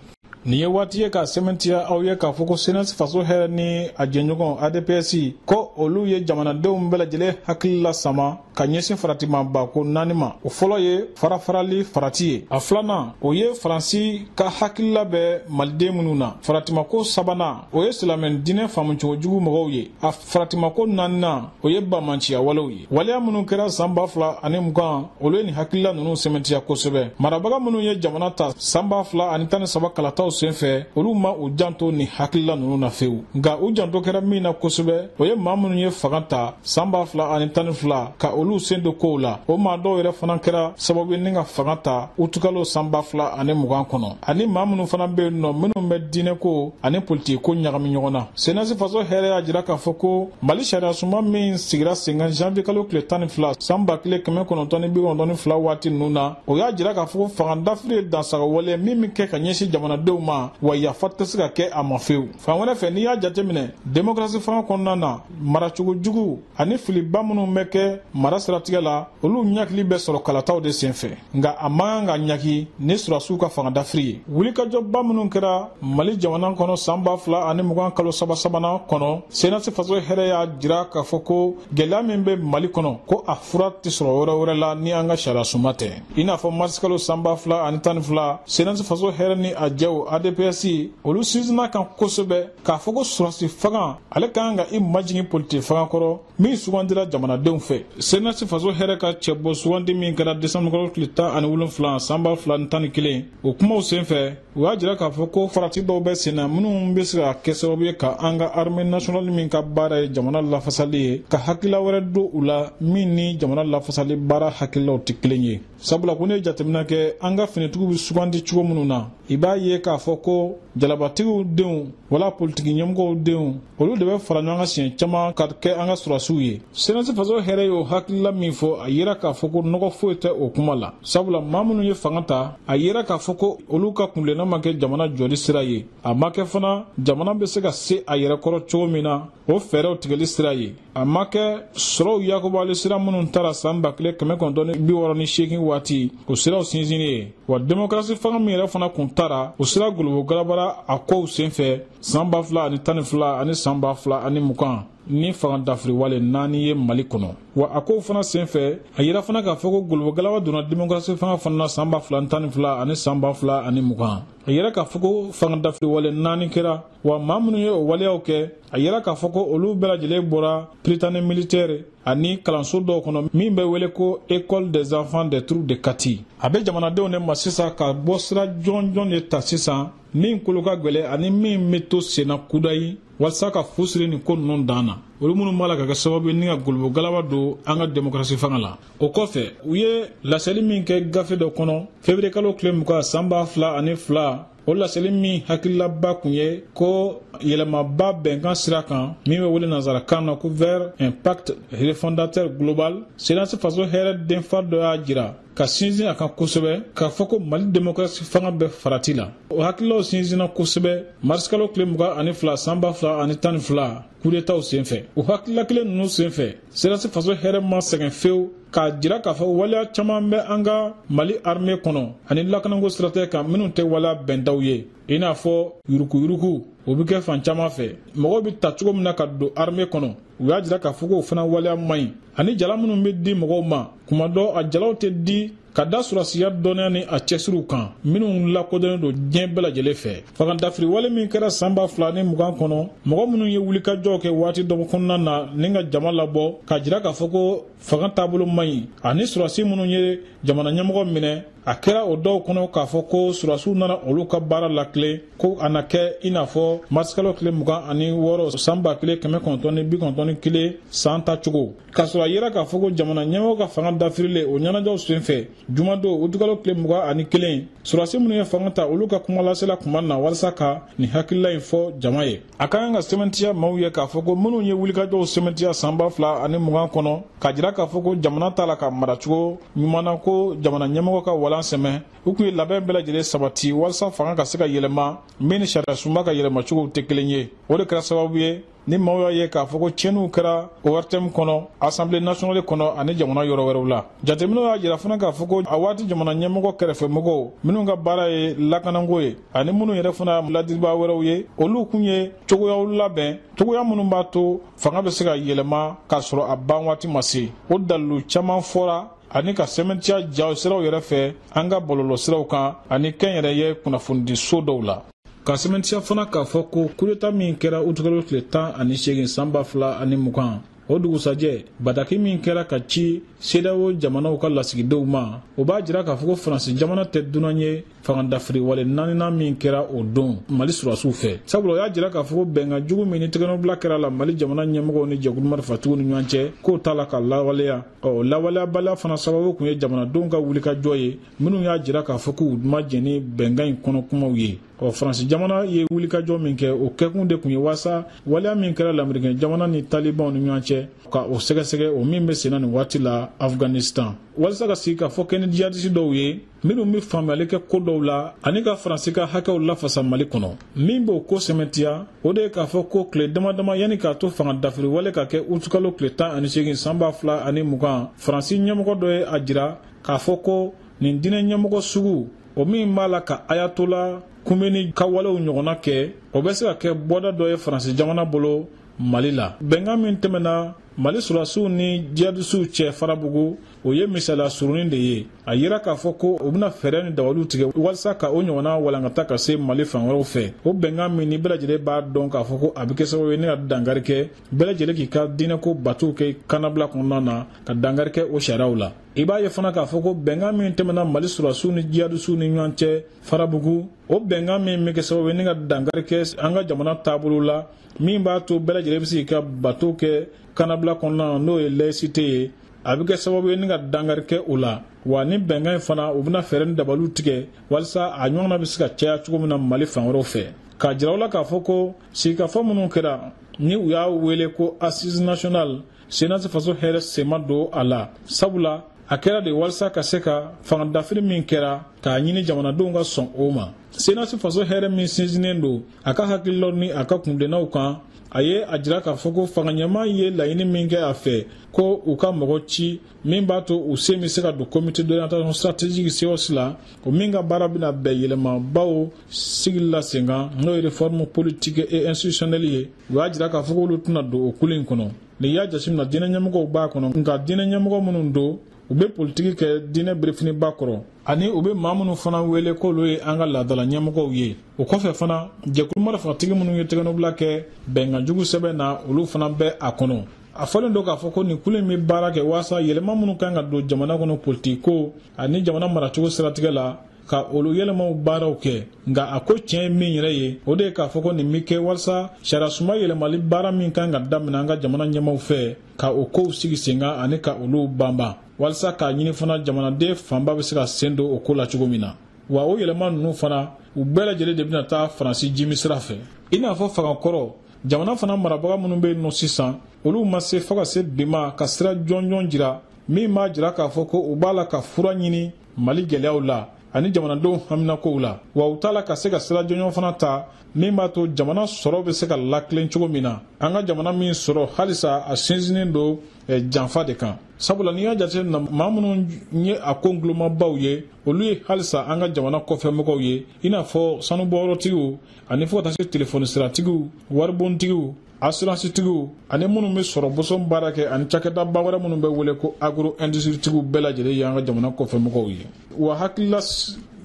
nin ye waati ye k'a sɛmɛntiya aw ye k'a fɔ ko senasi faso hɛrɛ ni a jɛɲɔgɔn adps ko olu ye jamanadenw bɛɛ lajɛlen hakili lasama ka ɲɛsin faratimaba ko naani ma o fɔlɔ ye farafarali farati ye a filanan o ye faransi ka hakilila bɛ maliden minnu na faratimako sabanan o ye silamɛ diinɛ faamucogo jugu mɔgɔw ye a faratimako naaninan o ye bamanciya walew ye waleya minnu kɛra san ba fila ani mugan olu ye nin hakilila ninnu sɛmɛntiya kosɛbɛ marabaga minnu ye jamana ta san ba fila ani tan ni saba kalataw senfɛ olu ma u janto nin hakilila ninnu na fewu nka u janto kɛra min na kosɛbɛ o ye maa minnu ye fanga ta san ba fila ani tan ni fila ka olu sen don kow la o maa dɔw yɛrɛ fana kɛra sababu ye ni ka fanga ta utukalo san ba fila ani mugan kɔnɔ ani maa minnu fana bɛ yen nɔ minnu bɛ diinɛko ani politikiko ɲagami ɲɔgɔn na senasi faso hɛrɛ y'a jira k'a fɔ ko mali sariyasunba min sigira sen kan janvier kalo tile tan ni fila san ba kelen kɛmɛ kɔnɔntɔn ni bi kɔnɔntɔn ni fila waati ninnu na o y'a jira k'a fɔ ko fanga dafiri ye dansagonwale min bɛ kɛ ka ɲɛsin jamanadenw ma wa yafa tɛ se ka kɛ a ma fewu fan wɛrɛ fɛ n'i y'a jateminɛ demokarasi fanga kɔnɔna na maracogo jugu ani filiba minnu bɛ kɛ mara siratigɛ la olu ɲangili bɛ sɔrɔ kalataw de senfɛ nka a man kan ka ɲangi ni sɔrasiw ka fangadafiri ye wulikajɔba minnu kɛra mali jamana kɔnɔ saan ba fila ani mugan kalo saba sabanan kɔnɔ senasi faso hɛrɛ y'a jira k'a fɔ ko gwɛlɛya min bɛ mali kɔnɔ ko a fura tɛ sɔrɔ yɔrɔ wɛrɛ la ni an ka sariyasunba tɛ i n'a fɔ marisikalo saan ba fila ani tan ni fila senasi faso hɛrɛ ni a jɛw adps olu sinsinna a kan kosɛbɛ k'a fɔ ko sɔrasi fanga ale ka kan ka i majigin politiki fanga kɔrɔ min sugandira jamanadenw fɛ senasi faso hɛrɛ ka cɛbɔ sugandi min kɛra desanbukalo tile tan ani wolonfila san ba fila ni tan ni kelen o kumaw senfɛ u y'a jira k'a fɔ ko farati dɔw bɛ sen na minnu bɛ se ka kɛ sababu ye ka an ka arme nasionali min ka baara ye jamana lafasali ye ka hakilila wɛrɛ don u la min ni jamana lafasali baara hakililaw tɛ kelen ye sabula ko n'i ye jateminɛ kɛ an ka finitigiw bɛ sugandi cogo minnu na i b'a ye k'a fɔ ko jalabatigiw denw wala politiki ɲɛmɔgɔw denw olu de bɛ fara ɲɔgɔn kan siɲɛ caman ka kɛ an ka sɔrasiw ye senasi faso hɛrɛ y'o hakilila min fɔ a yera k'a fɔ ko nɔgɔ foyi tɛ o kuma la sabula maa minnu ye fanga ta a yera k'a fɔ ko olu ka kuntilenna ma kɛ jamana jɔli sira ye a ma kɛ fana jamana bɛ se ka se a yɛrɛ kɔrɔ cogo min na o fɛɛrɛw tigɛli sira ye a ma kɛ sɔrɔw yakubali sira minnu tara saan ba kelen kɛmɛ kɔnɔntɔn ni bi wɔɔrɔ ni seegin waati o siraw sinsinni ye wa demokarasi fanga min yɛrɛ fana kun tara o sira golobo galabara a kow sen fɛ saan ba fila ani tan ni fila ani saan ba fila ani mugan ni fangadafiri wale naani ye mali kɔnɔ wa a kow fana sen fɛ a yera fana k'a fɔ ko golobo galaba donna demokarasi fanga fana na saan ba fila ni tan ni fila ani saan ba fila ani mugan a yera k'a fɔ ko fangadafiri wale naani kɛra wa maa minnu ye o waleyaw kɛ a yera k'a fɔ ko olu bɛɛ lajɛlen bɔra prytanée militaire ani kalanso dɔw kɔnɔ min bɛ wele ko école des enfants des troupes de kati a bɛ jamanadenw de ma sisan ka bɔ sira jɔnjɔn de ta sisan min kolo ka gwɛlɛ ani min bɛ to senna kudayi walisa ka fu siri nin ko ninnu dan na olu minnu b'a la ka kɛ sababu ye ni ka golobo galaba don an ka demokarasi fanga la o kɔfɛ u ye laseli min kɛ gafe dɔ kɔnɔ feburekalo tile mugan san ba fila ani fila o laseli min hakililaba kun ye ko yɛlɛmaba bɛnkan sira kan min bɛ wele nansarakan na ko vers un pacte refondateur global senasi faso hɛrɛ denfa dɔ y'a jira ka sinsin a kan kosɛbɛ k'a fɔ ko mali demokarasi fanga bɛ farati la o hakililaw sinsinna kosɛbɛ marisikalo tile mugan ani fila san ba fila ani tan ni fila kudetaw senfɛ o hakilila kelen ninnu senfɛ senasi faso hɛrɛ ma sɛgɛn fewu k'a jira k'a fɔ waleya caman bɛ an ka mali arme kɔnɔ ani lakananko siratɛ kan minnu tɛ waleya bɛntaw ye i n'a fɔ yurukuyuruku o bɛ kɛ fan caman fɛ mɔgɔw bɛ ta cogo min na ka don arme kɔnɔ u y'a jira k'a fɔ k'o fana waleya man ɲi ani jala minnu bɛ di mɔgɔw ma kuma dɔ a jalaw tɛ di ka da surasiya dɔnniya ni a cɛsiriw kan minnu lakodɔnnen don diɲɛ bɛɛ lajɛlen fɛ fagandafiri wale min kɛra san ba fila ni mugan kɔnɔ mɔgɔ minnu ye wulikajɔw kɛ waati dɔ kɔnɔna na ni ka jama labɔ ka jira k'a fɔ ko fanga taabolo man ɲi ani surasi minnu ye jamana ɲɛmɔgɔ minɛ a kɛra o dɔw kɔnɔ k'a fɔ ko surasiw nana olu ka baara latilen ko a na kɛ i n'a fɔ marisikalo tile mugan ani wɔɔrɔ san ba kelen kɛmɛ kɔnɔntɔn ni bi kɔnɔntɔn ni kelen san ta cogo k'a sɔrɔ a yera k'a fɔ ko jamana ɲɛmɔgɔ ka fanga dafirilen o ɲɛnajɛw sen fɛ jumadon utukalo tile mugan ani kelen surasi minnu ye fanga ta olu ka kumalasela kumana walasa ka nin hakilila in fɔ jama ye a ka kan ka sɛmɛntiya maaw ye k'a fɔ ko minnu ye wulikajɔw sɛmɛntiya san ba fila ani mugan kɔnɔ ka jira k'a fɔ ko jamana t'a la ka maracogo ɲuman na ko jamana ɲɛmɔgɔ ka walan sɛmɛ u kun ye labɛn bɛɛ lajɛlen sabati walasa fanga ka se ka yɛlɛma min ni sariyasunba ka yɛlɛmacogow tɛ kelen ye o de kɛra sababu ye ni maaw y'a ye k'a fɔ ko tiɲɛniw kɛra ortm kɔnɔ asanbile nasiyɔnali kɔnɔ ani jamana yɔrɔ wɛrɛw la jateminɛw y'a jira fana k'a fɔ ko a waati jamana ɲɛmɔgɔ kɛrɛfɛmɔgɔw minnu ka baara ye lakanako ye ani minnu yɛrɛ fana ladiribaa wɛrɛw ye olu kun ye cogoyaw labɛn cogoya minnu b'a to fanga bɛ se ka yɛlɛma k'a sɔrɔ a ban waati ma se o dalilu caman fɔra ani ka sɛmɛntiya jaw siraw yɛrɛ fɛ an ka bɔlɔlɔ siraw kan ani kɛnyɛrɛye kunnafonidiso dɔw la ka sɛmɛntiya fana k'a fɔ ko kudeta min kɛra utukalo tile tan ani seegin san ba fila ani mugan o dugusajɛ bataki min kɛra ka ci sedawo jamanaw ka lasigidenw ma o b'a jira k'a fɔ ko faransi jamana tɛ dunan ye fangadafiriwale naaninan min kɛra o don mali surasiw fɛ sabula o y'a jira k'a fɔ ko bɛnkan jugu min ni tɛgɛnɔbila kɛra la mali jamana ɲɛmɔgɔw ni jɛkulu marifatigiw ni ɲɔgɔn cɛ k'o t'a la ka lawaleya ɔ lawaleyabaliya fana sababu kun ye jamanadenw ka wulikajɔ ye minnu y'a jira k'a fɔ k'u ma jɛn ni bɛnkan in kɔnɔ kumaw ye ɔ faransi jamana ye wulikajɔ min kɛ o kɛkun de kun ye waasa waleya min kɛra lamerikɛn jamana ni talibanw ni ɲɔgɔn cɛ ka o sɛgɛsɛgɛ o min bɛ senna nin waati la afghanistan walisa ka sigikafɔ kɛ ni jihadisi dɔw ye minnu bɛ faamuyali kɛ ko dɔw la ani ka faransi ka hakɛw lafasa mali kɔnɔ min b'o ko sɛmɛntiya o de ye k'a fɔ ko tile dama dama yanni k'a to fanga dafiri wale ka kɛ utukalo tile tan ani seegin san ba fila ani mugan faransi ɲɛmɔgɔ dɔ ye a jira k'a fɔ ko nin diinɛ ɲɛmɔgɔ sugu o min b'a la ka ayatola kumeni ka walew ɲɔgɔnna kɛ o bɛ se ka kɛ bɔda dɔ ye faransi jamana bolo mali la bɛnkan min tɛmɛna mali surasiw ni jihadisiw cɛ farabugu o ye misaliya surunin de ye a yira k'a fɔ ko u bɛna fɛɛrɛ ni dawaliw tigɛ walisa ka o ɲɔgɔnna walankata ka se mali fan wɛrɛw fɛ o bɛnkan min ni bɛɛ lajɛlen b'a dɔn k'a fɔ ko a bɛ kɛ sababu ye ni ka dankari kɛ bɛɛ lajɛlen k'i ka diinɛko batow kɛ kanabila kɔnɔna na ka dankari kɛ o sariyaw la i b'a ye fana k'a fɔ ko bɛnkan min tɛmɛna mali sɔrɔdasiw ni jihadisiw ni ɲɔgɔn cɛ farabugu o bɛnkan min bɛ kɛ sababu ye ni ka dankari kɛ an ka jamana taabolo la min b'a to bɛɛ lajɛlen bɛ se k'i ka batow kɛ kanabila kɔnɔna na n'o ye laïcité ye a bɛ kɛ sababu ye ni ka dankari kɛ o la wa ni bɛnkan in fana u bɛna fɛɛrɛ ni dabaliw tigɛ walisa a ɲɔgɔnna bɛ se ka caya cogo min na mali fan wɛrɛw fɛ k'a jira u la k'a fɔ ko sigikafɔ minnu kɛra ni u y'a wele ko assise nationale senasi faso hɛrɛ sen ma don a la sabula a kɛra de walisa ka se ka fangadafiri min kɛra k'a ɲini jamanadenw ka sɔn o ma senasi faso hɛrɛ min sinsinnen don a ka hakililaw ni a ka kuntilennaw kan a ye a jira k'a fɔ ko fanga ɲɛmaa ye laɲini min kɛ a fɛ ko u ka mɔgɔ ci min b'a to u sen bɛ se ka don comité d'orientation stratégique COS la o min ka baara bɛna bɛn yɛlɛmabaw sigili la sen kan n'o ye réforme politique et institutionnelle ye u y'a jira k'a fɔ k'olu tɛna don o kulu in kɔnɔ n'i y'a jateminɛ diinɛ ɲɛmɔgɔw b'a kɔnɔ nka diinɛ ɲɛmɔgɔ minnu don u bɛ politiki kɛ diinɛ birifiniba kɔrɔ ani u bɛ maa minnu fana wele k'olu ye an ka laadala ɲɛmɔgɔw ye o kɔfɛ fana jɛkulu marifatigi minnu ye tɛgɛnɔbila kɛ bɛnkan jugu sɛbɛn na olu fana bɛ a kɔnɔ a fɔlen don k'a fɔ ko nin kulu in bɛ baara kɛ waasa yɛlɛma minnu kan ka don jamana kɔnɔ politikiko ani jamana maracogo siratigɛ la ka olu yɛlɛmaw baaraw kɛ nka a ko tiɲɛ ye min yɛrɛ ye o de ye k'a fɔ ko nin bɛ kɛ walasa sariyasunba yɛlɛmali baara min kan ka daminɛ an ka jamana ɲɛmaaw fɛ ka o kow sigi sen kan ani ka olu banban walasa k'a ɲini fana jamanaden fanba bɛ se ka sen don o ko la cogo min na wa o yɛlɛma ninnu fana u bɛɛ lajɛlen de bɛna taa faransi jimi sira fɛ i n'a fɔ fanga kɔrɔ jamana fana marabaga minnu bɛ yen nɔ sisan olu ma se fo ka se bi ma ka sira jɔnjɔn jira min b'a jira k'a fɔ ko u b'a la ka fura ɲini mali gɛlɛyaw la ani jamanadenw haminakow la wa u t'a la ka se ka sira jɔnjɔn fana ta min b'a to jamana sɔrɔ bɛ se ka latilen cogo min na an ka jamana min sɔrɔ halisa a sinsinnen don eh, janfa de kan sabula n'i y'a jateminɛ maa minnu ye a ko nkulomabaw ye olu ye halisa an ka jamana kɔfɛmɔgɔw ye i n'a fɔ sanubɔyɔrɔtigiw ani fo ka taa se telefɔni siratigiw waribontigiw asuransitigiw ani minnu bɛ sɔrɔ boson baara kɛ ani cakɛdaba wɛrɛ minnu bɛ wele ko agro indusiritigiw bɛɛ lajɛlen y'an ka jamana kɔfɛmɔgɔw ye wa hakilila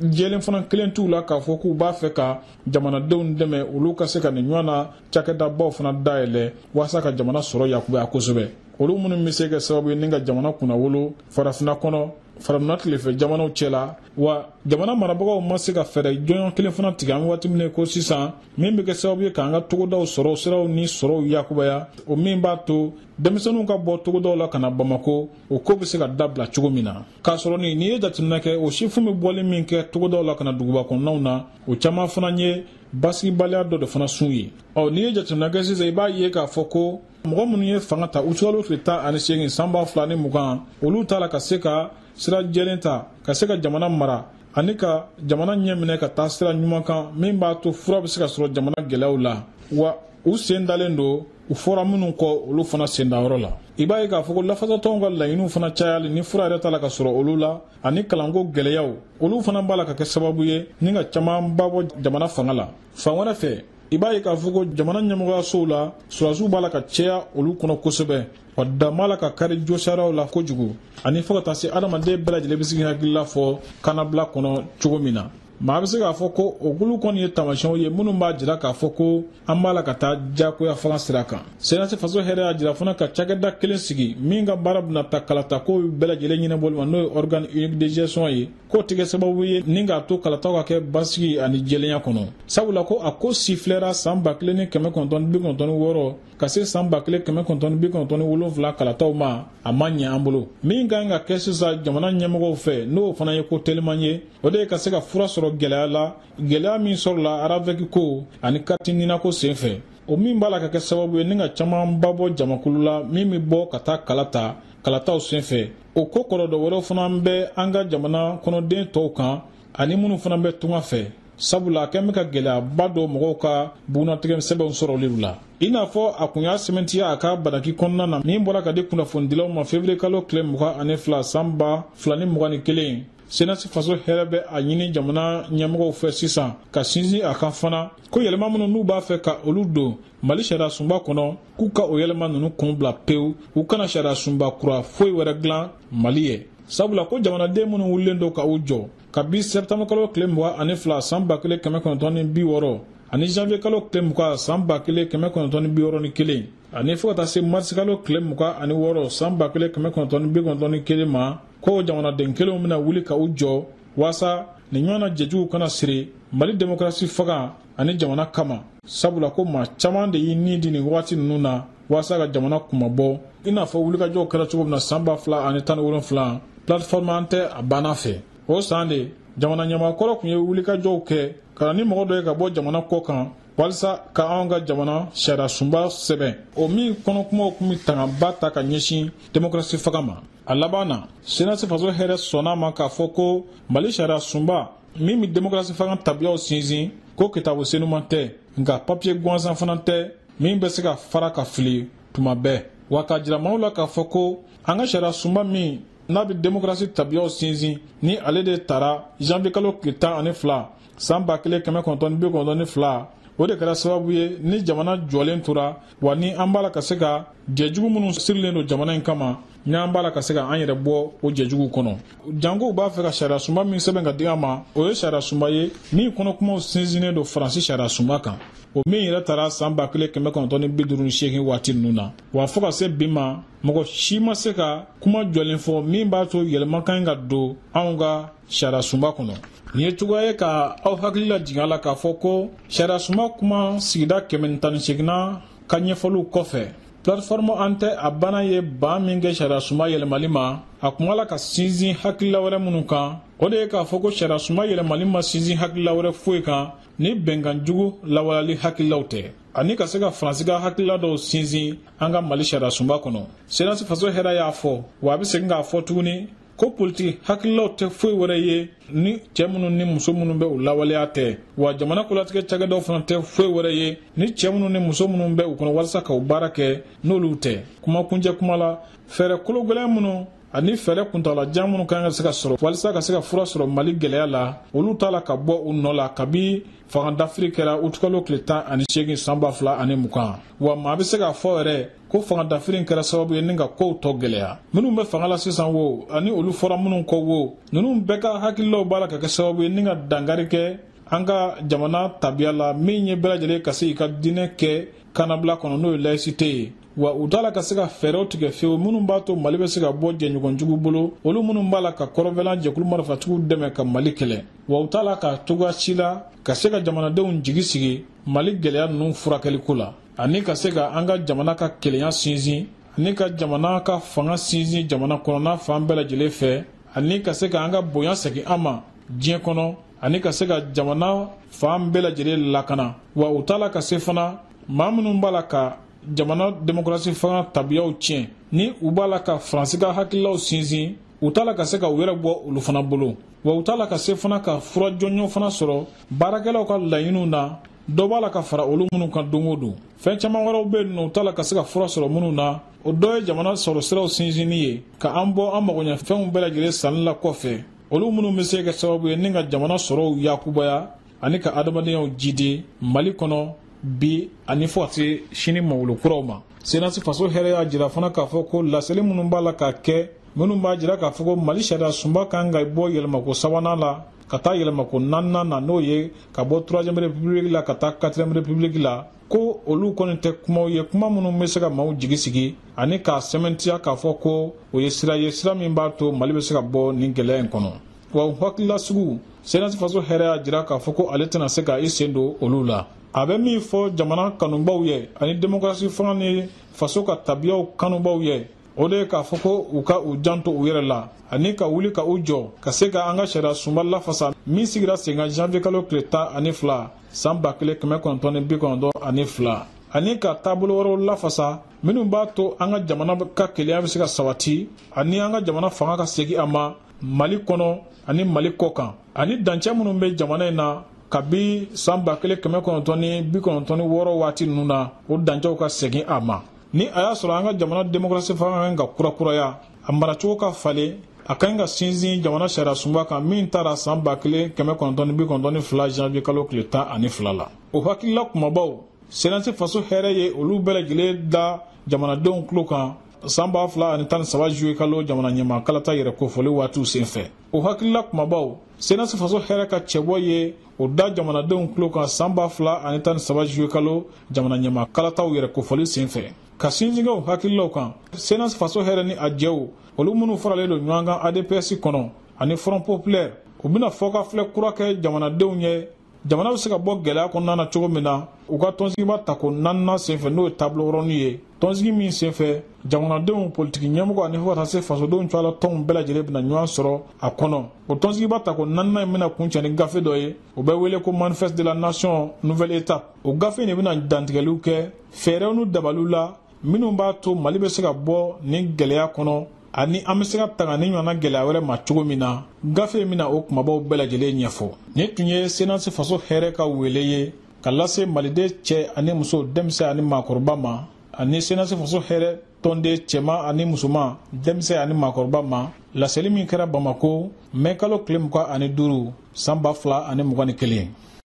jɛlen fana kelen t'u la k'a fɔ k'u b'a fɛ ka jamanadenw dɛmɛ olu ka se ka nin ɲɔgɔnna cakɛdabaw fana dayɛlɛ walasa ka jamana sɔrɔ yakubaya kosɛbɛ olu minnu bɛ se kɛ sababu ye ni ka jamana kunnawolo farafinna kɔnɔ farafinna tilebin fɛ jamanaw cɛla wa jamana marabagaw ma se ka fɛɛrɛ jɔnjɔn kelen fana tigɛ an waati min ko sisan min bɛ kɛ sababu ye k'an ka togodaw sɔrɔ siraw ni sɔrɔw yakubaya o min b'a to denmisɛnninw ka bɔ togodaw la ka na bamako o ko bɛ se ka dabila cogo min na k'a sɔrɔ nin n'i ye jateminɛ kɛ o sifin bɛ bɔli min kɛ togodaw la ka na duguba kɔnɔnaw na o caman fana ye basigibaliya dɔ de fana sun ye ɔ n'i ye jateminɛ kɛ sisan i b'a ye k'a fɔ ko mɔgɔ minnu ye fanga ta uti kalo tile tan ani seegin san ba fila ni mugan olu t'a la ka se ka sira jɛlen ta ka se ka jamana mara ani ka jamana ɲɛ minɛ ka taa sira ɲuman kan min b'a to fura bɛ se ka sɔrɔ jamana gɛlɛyaw la wa u sen dalen don u fɔra minnu kɔ olu fana sendayɔrɔ la i b'a ye k'a fɔ ko lafasatɔnw ka laɲiniw fana cayali ni fura yɛrɛ t'a la ka sɔrɔ olu la ani kalanko gɛlɛyaw olu fana b'a la ka kɛ sababu ye ni ka camanba bɔ jamana fanga la fan wɛrɛ fɛ i b'a ye k'a fɔ ko jamana ɲɛmɔgɔyasow la sɔrɔdasiw b'a la ka caya olu kɔnɔ kosɛbɛ wa dan b'a la ka kari josariyaw la kojugu ani fo ka taa se adamaden bɛɛ lajɛlen bɛ se k'i hakilila fɔ kanabila kɔnɔ cogo min na maa bɛ se k'a fɔ ko o kulu kɔni ye taamasiyɛnw ye minnu b'a jira k'a fɔ ko an b'a la ka taa diyagoya fanga sira kan senasi faso hɛrɛ y'a jira fana ka cakɛda kelen sigi min ka baara bɛna taa kalatako bɛɛ lajɛlen ɲɛnabɔli ma n'o ye organe unique de gestion ye k'o tɛ kɛ sababu ye ni k'a to kalataw ka kɛ basigi ani jɛlenya kɔnɔ sabula ko a ko sifilɛra san ba kelen ni kɛmɛ kɔnɔntɔn bi kɔnɔntɔn wɔɔrɔ ka se san ba kelen kɛmɛ kɔnɔntɔn bi kɔnɔntɔn ni wolonfila kalataw ma a ma ɲɛ an bolo min ka kan ka kɛ sisan jamana ɲɛmɔgɔw fɛ n'o fana ye ko teliman ye o de ye ka se ka fura sɔrɔ gɛlɛya la gɛlɛya min sɔrɔla aravɛki ko ani kariti nina ko sen fɛ o min b'a la ka kɛ sababu ye ni ka camanba bɔ jamakulu la min bɛ bɔ ka taa kala ta kalataw sen fɛ o ko kɔlɔlɔ dɔ wɛrɛw fana bɛ an ka jamana kɔnɔden tɔw kan ani minnu fana bɛ tunga fɛ sabula a kɛlen bɛ ka gɛlɛyaba don mɔgɔw ka bugunnatigɛ sɛbɛnw sɔrɔli la i n'a fɔ a kun y'a sɛmɛntiya a ka bataki kɔnɔna na min bɔra ka di kunnafonidilaw ma fevriye kalo tile mugan ani fila san ba fila ni mugan ni kelen senasi faso hɛrɛ bɛ a ɲini jamana ɲɛmɔgɔw fɛ sisan ka sinsin a kan fana ko yɛlɛma minnu n'u b'a fɛ ka olu don mali sariya sunba kɔnɔ k'u ka o yɛlɛma ninnu kun bila pewu u kana sariya sunba kura foyi wɛrɛ dilan mali ye sabula ko jamanaden minnu wulilen don ka u jɔ kabi sɛptanburu kalo tile mugan ani fila san ba kelen kɛmɛ kɔnɔntɔn ni bi wɔɔrɔ ani janvier kalo tile mugan san ba kelen kɛmɛ kɔnɔntɔn ni bi wɔɔrɔ ni kelen ani fo ka taa se marisi kalo tile mugan ani wɔɔrɔ san ba kelen kɛmɛ kɔnɔntɔn ni bi kɔnɔntɔn ni kelen ma ko jamanaden kelenw bɛna wuli ka u jɔ waasa nin ɲɔgɔn na jɛjuguw kana siri mali demokarasi fanga ani jamana kama sabula ko maa caman de y'i ni di nin wagati ninnu na walasa ka jamana kunmabɔ i n'a fɔ wulikajɔw kɛra cogo min na saan ba fila ani tan ni wolonfila plateforme an tɛ a banna fɛ o saan de jamana ɲɛmaa kɔrɔ tun ye wulikajɔw kɛ ka na ni mɔgɔ dɔ ye ka bɔ jamana kɔ kan walisa ka anw ka jamana sariya sunba sɛbɛn o min kɔnɔkumaw tun bɛ tangaba ta ka ɲɛsin demokrasi fanga ma a laban na senasi faso hɛrɛ sɔnna a ma k'a fɔ ko mali sariya sunba min bɛ demokrasi fanga tabiyaw sinsin ko kitabu senuman tɛ nka papiye gansan fana tɛ min bɛ se ka fara ka fili tuma bɛɛ wa k'a jira maaw la k'a fɔ ko an ka sariya sunba min n'a bɛ demokarasi tabiyaw sinsin ni ale de tara janvier kalo tile tan ani fila san ba kelen kɛmɛ kɔnɔntɔn ni bi kɔnɔntɔn ni fila o de kɛra sababu ye ni jamana jɔlen tora wa ni an b'a la ka se ka jɛjugu minnu sirilen don jamana in kama n'an b'a la ka se ka an yɛrɛ bɔ o jɛjuguw kɔnɔ jankow b'a fɛ ka sariyasunba min sɛbɛn ka di an ma o ye sariyasunba ye min kɔnɔkumaw sinsinnen don faransi sariyasunba kan o min yɛrɛ tara saan ba kelen kɛmɛ kɔnɔntɔn ni bi duuru ni seegin waati ninnu na wa fɔɔ ka se bi ma mɔgɔ si ma se ka kuma jɔlen fɔ min b'a to yɛlɛma ka ɲi ka don anw ka sariyasunba kɔnɔ nin ye cogoya ye ka aw hakili lajigin a la k'a fɔ ko sariyasunba kuma sigida kɛmɛ ni tan ni seeginnan ka ɲɛfɔliw kɔfɛ plateforme an tɛ a banna ye ban min kɛ sariyasunba yɛlɛmali ma a tun b'a la ka sinsin hakilila wɛrɛ minnu kan o de ye k'a fɔ ko sariyasunba yɛlɛmali ma sinsin hakilila wɛrɛ foyi kan ni bɛnkan jugu lawaleyali hakililaw tɛ ani ka se ka faransi ka hakilila dɔw sinsin an ka mali sariyasunba kɔnɔ senasi faso hɛrɛ y'a fɔ wa a bɛ segin k'a fɔ tuguni ko politiki hakililaw tɛ foyi wɛrɛ ye ni cɛɛ minnu ni muso minnu bɛ u lawaleya tɛ wa jamana kolatigɛ cakɛdaw fana tɛ foyi wɛrɛ ye ni cɛɛ minnu ni muso minnu bɛ u kɔnɔ walisa ka u baara kɛ n'olu tɛ kuma kuncɛ kuma la fɛɛrɛ kologwɛlɛn minnu ani fɛɛrɛ kuntalajan minnu ka ɲi ka se ka sɔrɔ walisa ka se ka fura sɔrɔ mali gɛlɛya la olu t'a la ka bɔ u nɔ la kabi fanga dafiri kɛra utukalo tile tan ani seegin san ba fila ani mugan wa maa bɛ se k'a fɔ yɛrɛ ko fanga dafiri in kɛra sababu ye ni ka kow tɔ gwɛlɛya minnu bɛ fanga la sisan wo ani olu fɔra minnu kɔ wo ninnu bɛɛ ka hakililaw b'a la ka kɛ sababu ye ni ka dankari kɛ an ka jamana tabiya la min ye bɛɛ lajɛlen ka se k'i ka diinɛ kɛ kanabila kɔnɔ n'o ye layisite ye wa u t'a la ka se ka fɛɛrɛw tigɛ fewu minnu b'a to mali bɛ se ka bɔ jɛɲɔgɔnjugu bolo olu minnu b'a la ka kɔrɔnfɛlan jɛkulu marifatigiw dɛmɛ ka mali kɛlɛ wa u t'a la ka cogoya si la ka se ka jamanadenw jigi sigi mali gɛlɛya ninnu furakɛliko la ani ka se ka an ka jamana ka kelenya sinsin ani ka jamana ka fanga sinsin jamana kɔnɔna fan bɛɛ lajɛlen fɛ ani ka se ka an ka bonya segin an ma diɲɛ kɔnɔ ani ka se ka jamana fan bɛɛ lajɛlen lakana wa u t'a la ka se fana maa minnu b'a la ka jamana demokarasi fanga tabiyaw tiɲɛ ni u b'a la ka faransi ka hakililaw sinsin u t'a la ka se ka u yɛrɛ bɔ olu fana bolo wa u t'a la ka se fana ka fura jɔnjɔn fana sɔrɔ baarakɛlaw ka laɲiniw na dɔ b'a la ka fara olu minnu kan don o don fɛn caman wɛrɛw bɛ yen n'u t'a la ka se ka fura sɔrɔ minnu na o dɔ ye jamana sɔrɔ siraw sinsinni ye ka an bɔ an magoɲɛfɛnw bɛɛ lajɛlen sanni la kɔfɛ olu minnu bɛ se ka kɛ sababu ye ni ka jamana sɔrɔw yakubaya ani ka adamadenyaw jidi mali kɔnɔ bi ani fo ka se sini maa wolo kuraw ma senasi faso hɛrɛ y'a jira fana k'a fɔ ko laseli minnu b'a la ka kɛ minnu b'a jira k'a fɔ ko mali sariya sunba kan ka bɔ yɛlɛmako sabanan la ka taa yɛlɛmako naaninan na n'o ye ka bɔ troisième république la ka taa quatrième république la ko olu kɔni tɛ kumaw ye kuma minnu bɛ se ka maaw jigi sigi ani k'a sɛmɛntiya k'a fɔ ko o ye sira ye sira min b'a to mali bɛ se ka bɔ nin gɛlɛya in kɔnɔ wa o hakilila suguw senasi faso hɛrɛ y'a jira k'a fɔ ko ale tɛna se ka i sen don olu la a bɛ min fɔ jamana kanubaaw ye ani demokarasi fanga ni faso ka tabiyaw kanubaaw ye o de ye k'a fɔ ko u ka u janto u yɛrɛ la ani ka wuli ka u jɔ ka se ka an ka sariya sunba lafasa min sigira senkan janvier kalo tile tan ani fila san ba kelen kɛmɛ kɔnɔntɔn ni bi kɔnɔntɔn ani fila ani ka taabolo wɛrɛw lafasa minnu b'a to an ka jamana ka kelenya bɛ se ka sabati ani an ka jamana fanga ka segin a ma mali kɔnɔ ani mali kɔ kan ani dancɛ minnu bɛ jamana in na kabi san ba kelen kɛmɛ kɔnɔntɔn ni bi kɔnɔntɔn ni wɔɔrɔ waati ninnu na o dancɛw ka segin a ma ni a y'a sɔrɔ an ka jamana demokarasi fanga ka kan ka kurakuraya a maracogo ka falen a ka ɲi ka sinsin jamana sariya sunba kan min tara san ba kelen kɛmɛ kɔnɔntɔn ni bi kɔnɔntɔn ni fila janvier kalo tile tan ani fila la o hakilila kumabaw senasi faso hɛrɛ ye olu bɛɛ lajɛlen da jamanadenw tulo kan san ba fila ani tan ni saba juillet kalo jamana ɲɛmaa kalata yɛrɛ kofɔli waatiw senfɛ o hakilila kumabaw senasi faso hɛrɛ ka cɛbɔ ye o da jamanadenw tulo kan san ba fila ani tan ni saba juillet kalo jamana ɲɛmaa kalataw yɛrɛ kofɔli sen fɛ ka sinsin kɛ o hakililaw kan senasi faso hɛrɛ ni a jɛw olu minnu faralen don ɲɔgɔn kan adps kɔnɔ ani front populaire u bɛna fɔkafilɛ kura kɛ jamanadenw ye jamana bɛ se ka bɔ gɛlɛya kɔnɔna na cogo min na u ka tɔnsigiba tako naaninan senfɛ n'o ye table ronde ye tɔnsigi min senfɛ jamanadenw politiki ɲɛmɔgɔ ani fo ka taa se fasodenw cɛ la tɔnw bɛɛ lajɛlen bɛna ɲɔgɔn sɔrɔ a kɔnɔ o tɔnsigiba tako naaninan in bɛna kuncɛ ni gafe dɔ ye o bɛ wele ko manifeste de la nation nouvelle étape o gafe in de bɛna dantigɛliw kɛ fɛɛrɛw ni dabaliw la minnu b'a to mali bɛ se ka bɔ nin gɛlɛya kɔnɔ ani an bɛ se ka tanga nin ɲɔgɔnna gɛlɛya wɛrɛ ma cogo min na gafe in bɛna o kumabaw bɛɛ lajɛlen ɲɛfɔ nin tun ye senasi faso hɛrɛ ka wele ye ka lase maliden cɛ ani muso denmisɛn ani maakɔrɔba ma ani senasi faso hɛrɛ tɔnden cɛman ani musoman denmisɛn ani maakɔrɔba ma laseli min kɛra bamako mɛ kalo tile mugan ani duuru san ba fila ani mugan ni kelen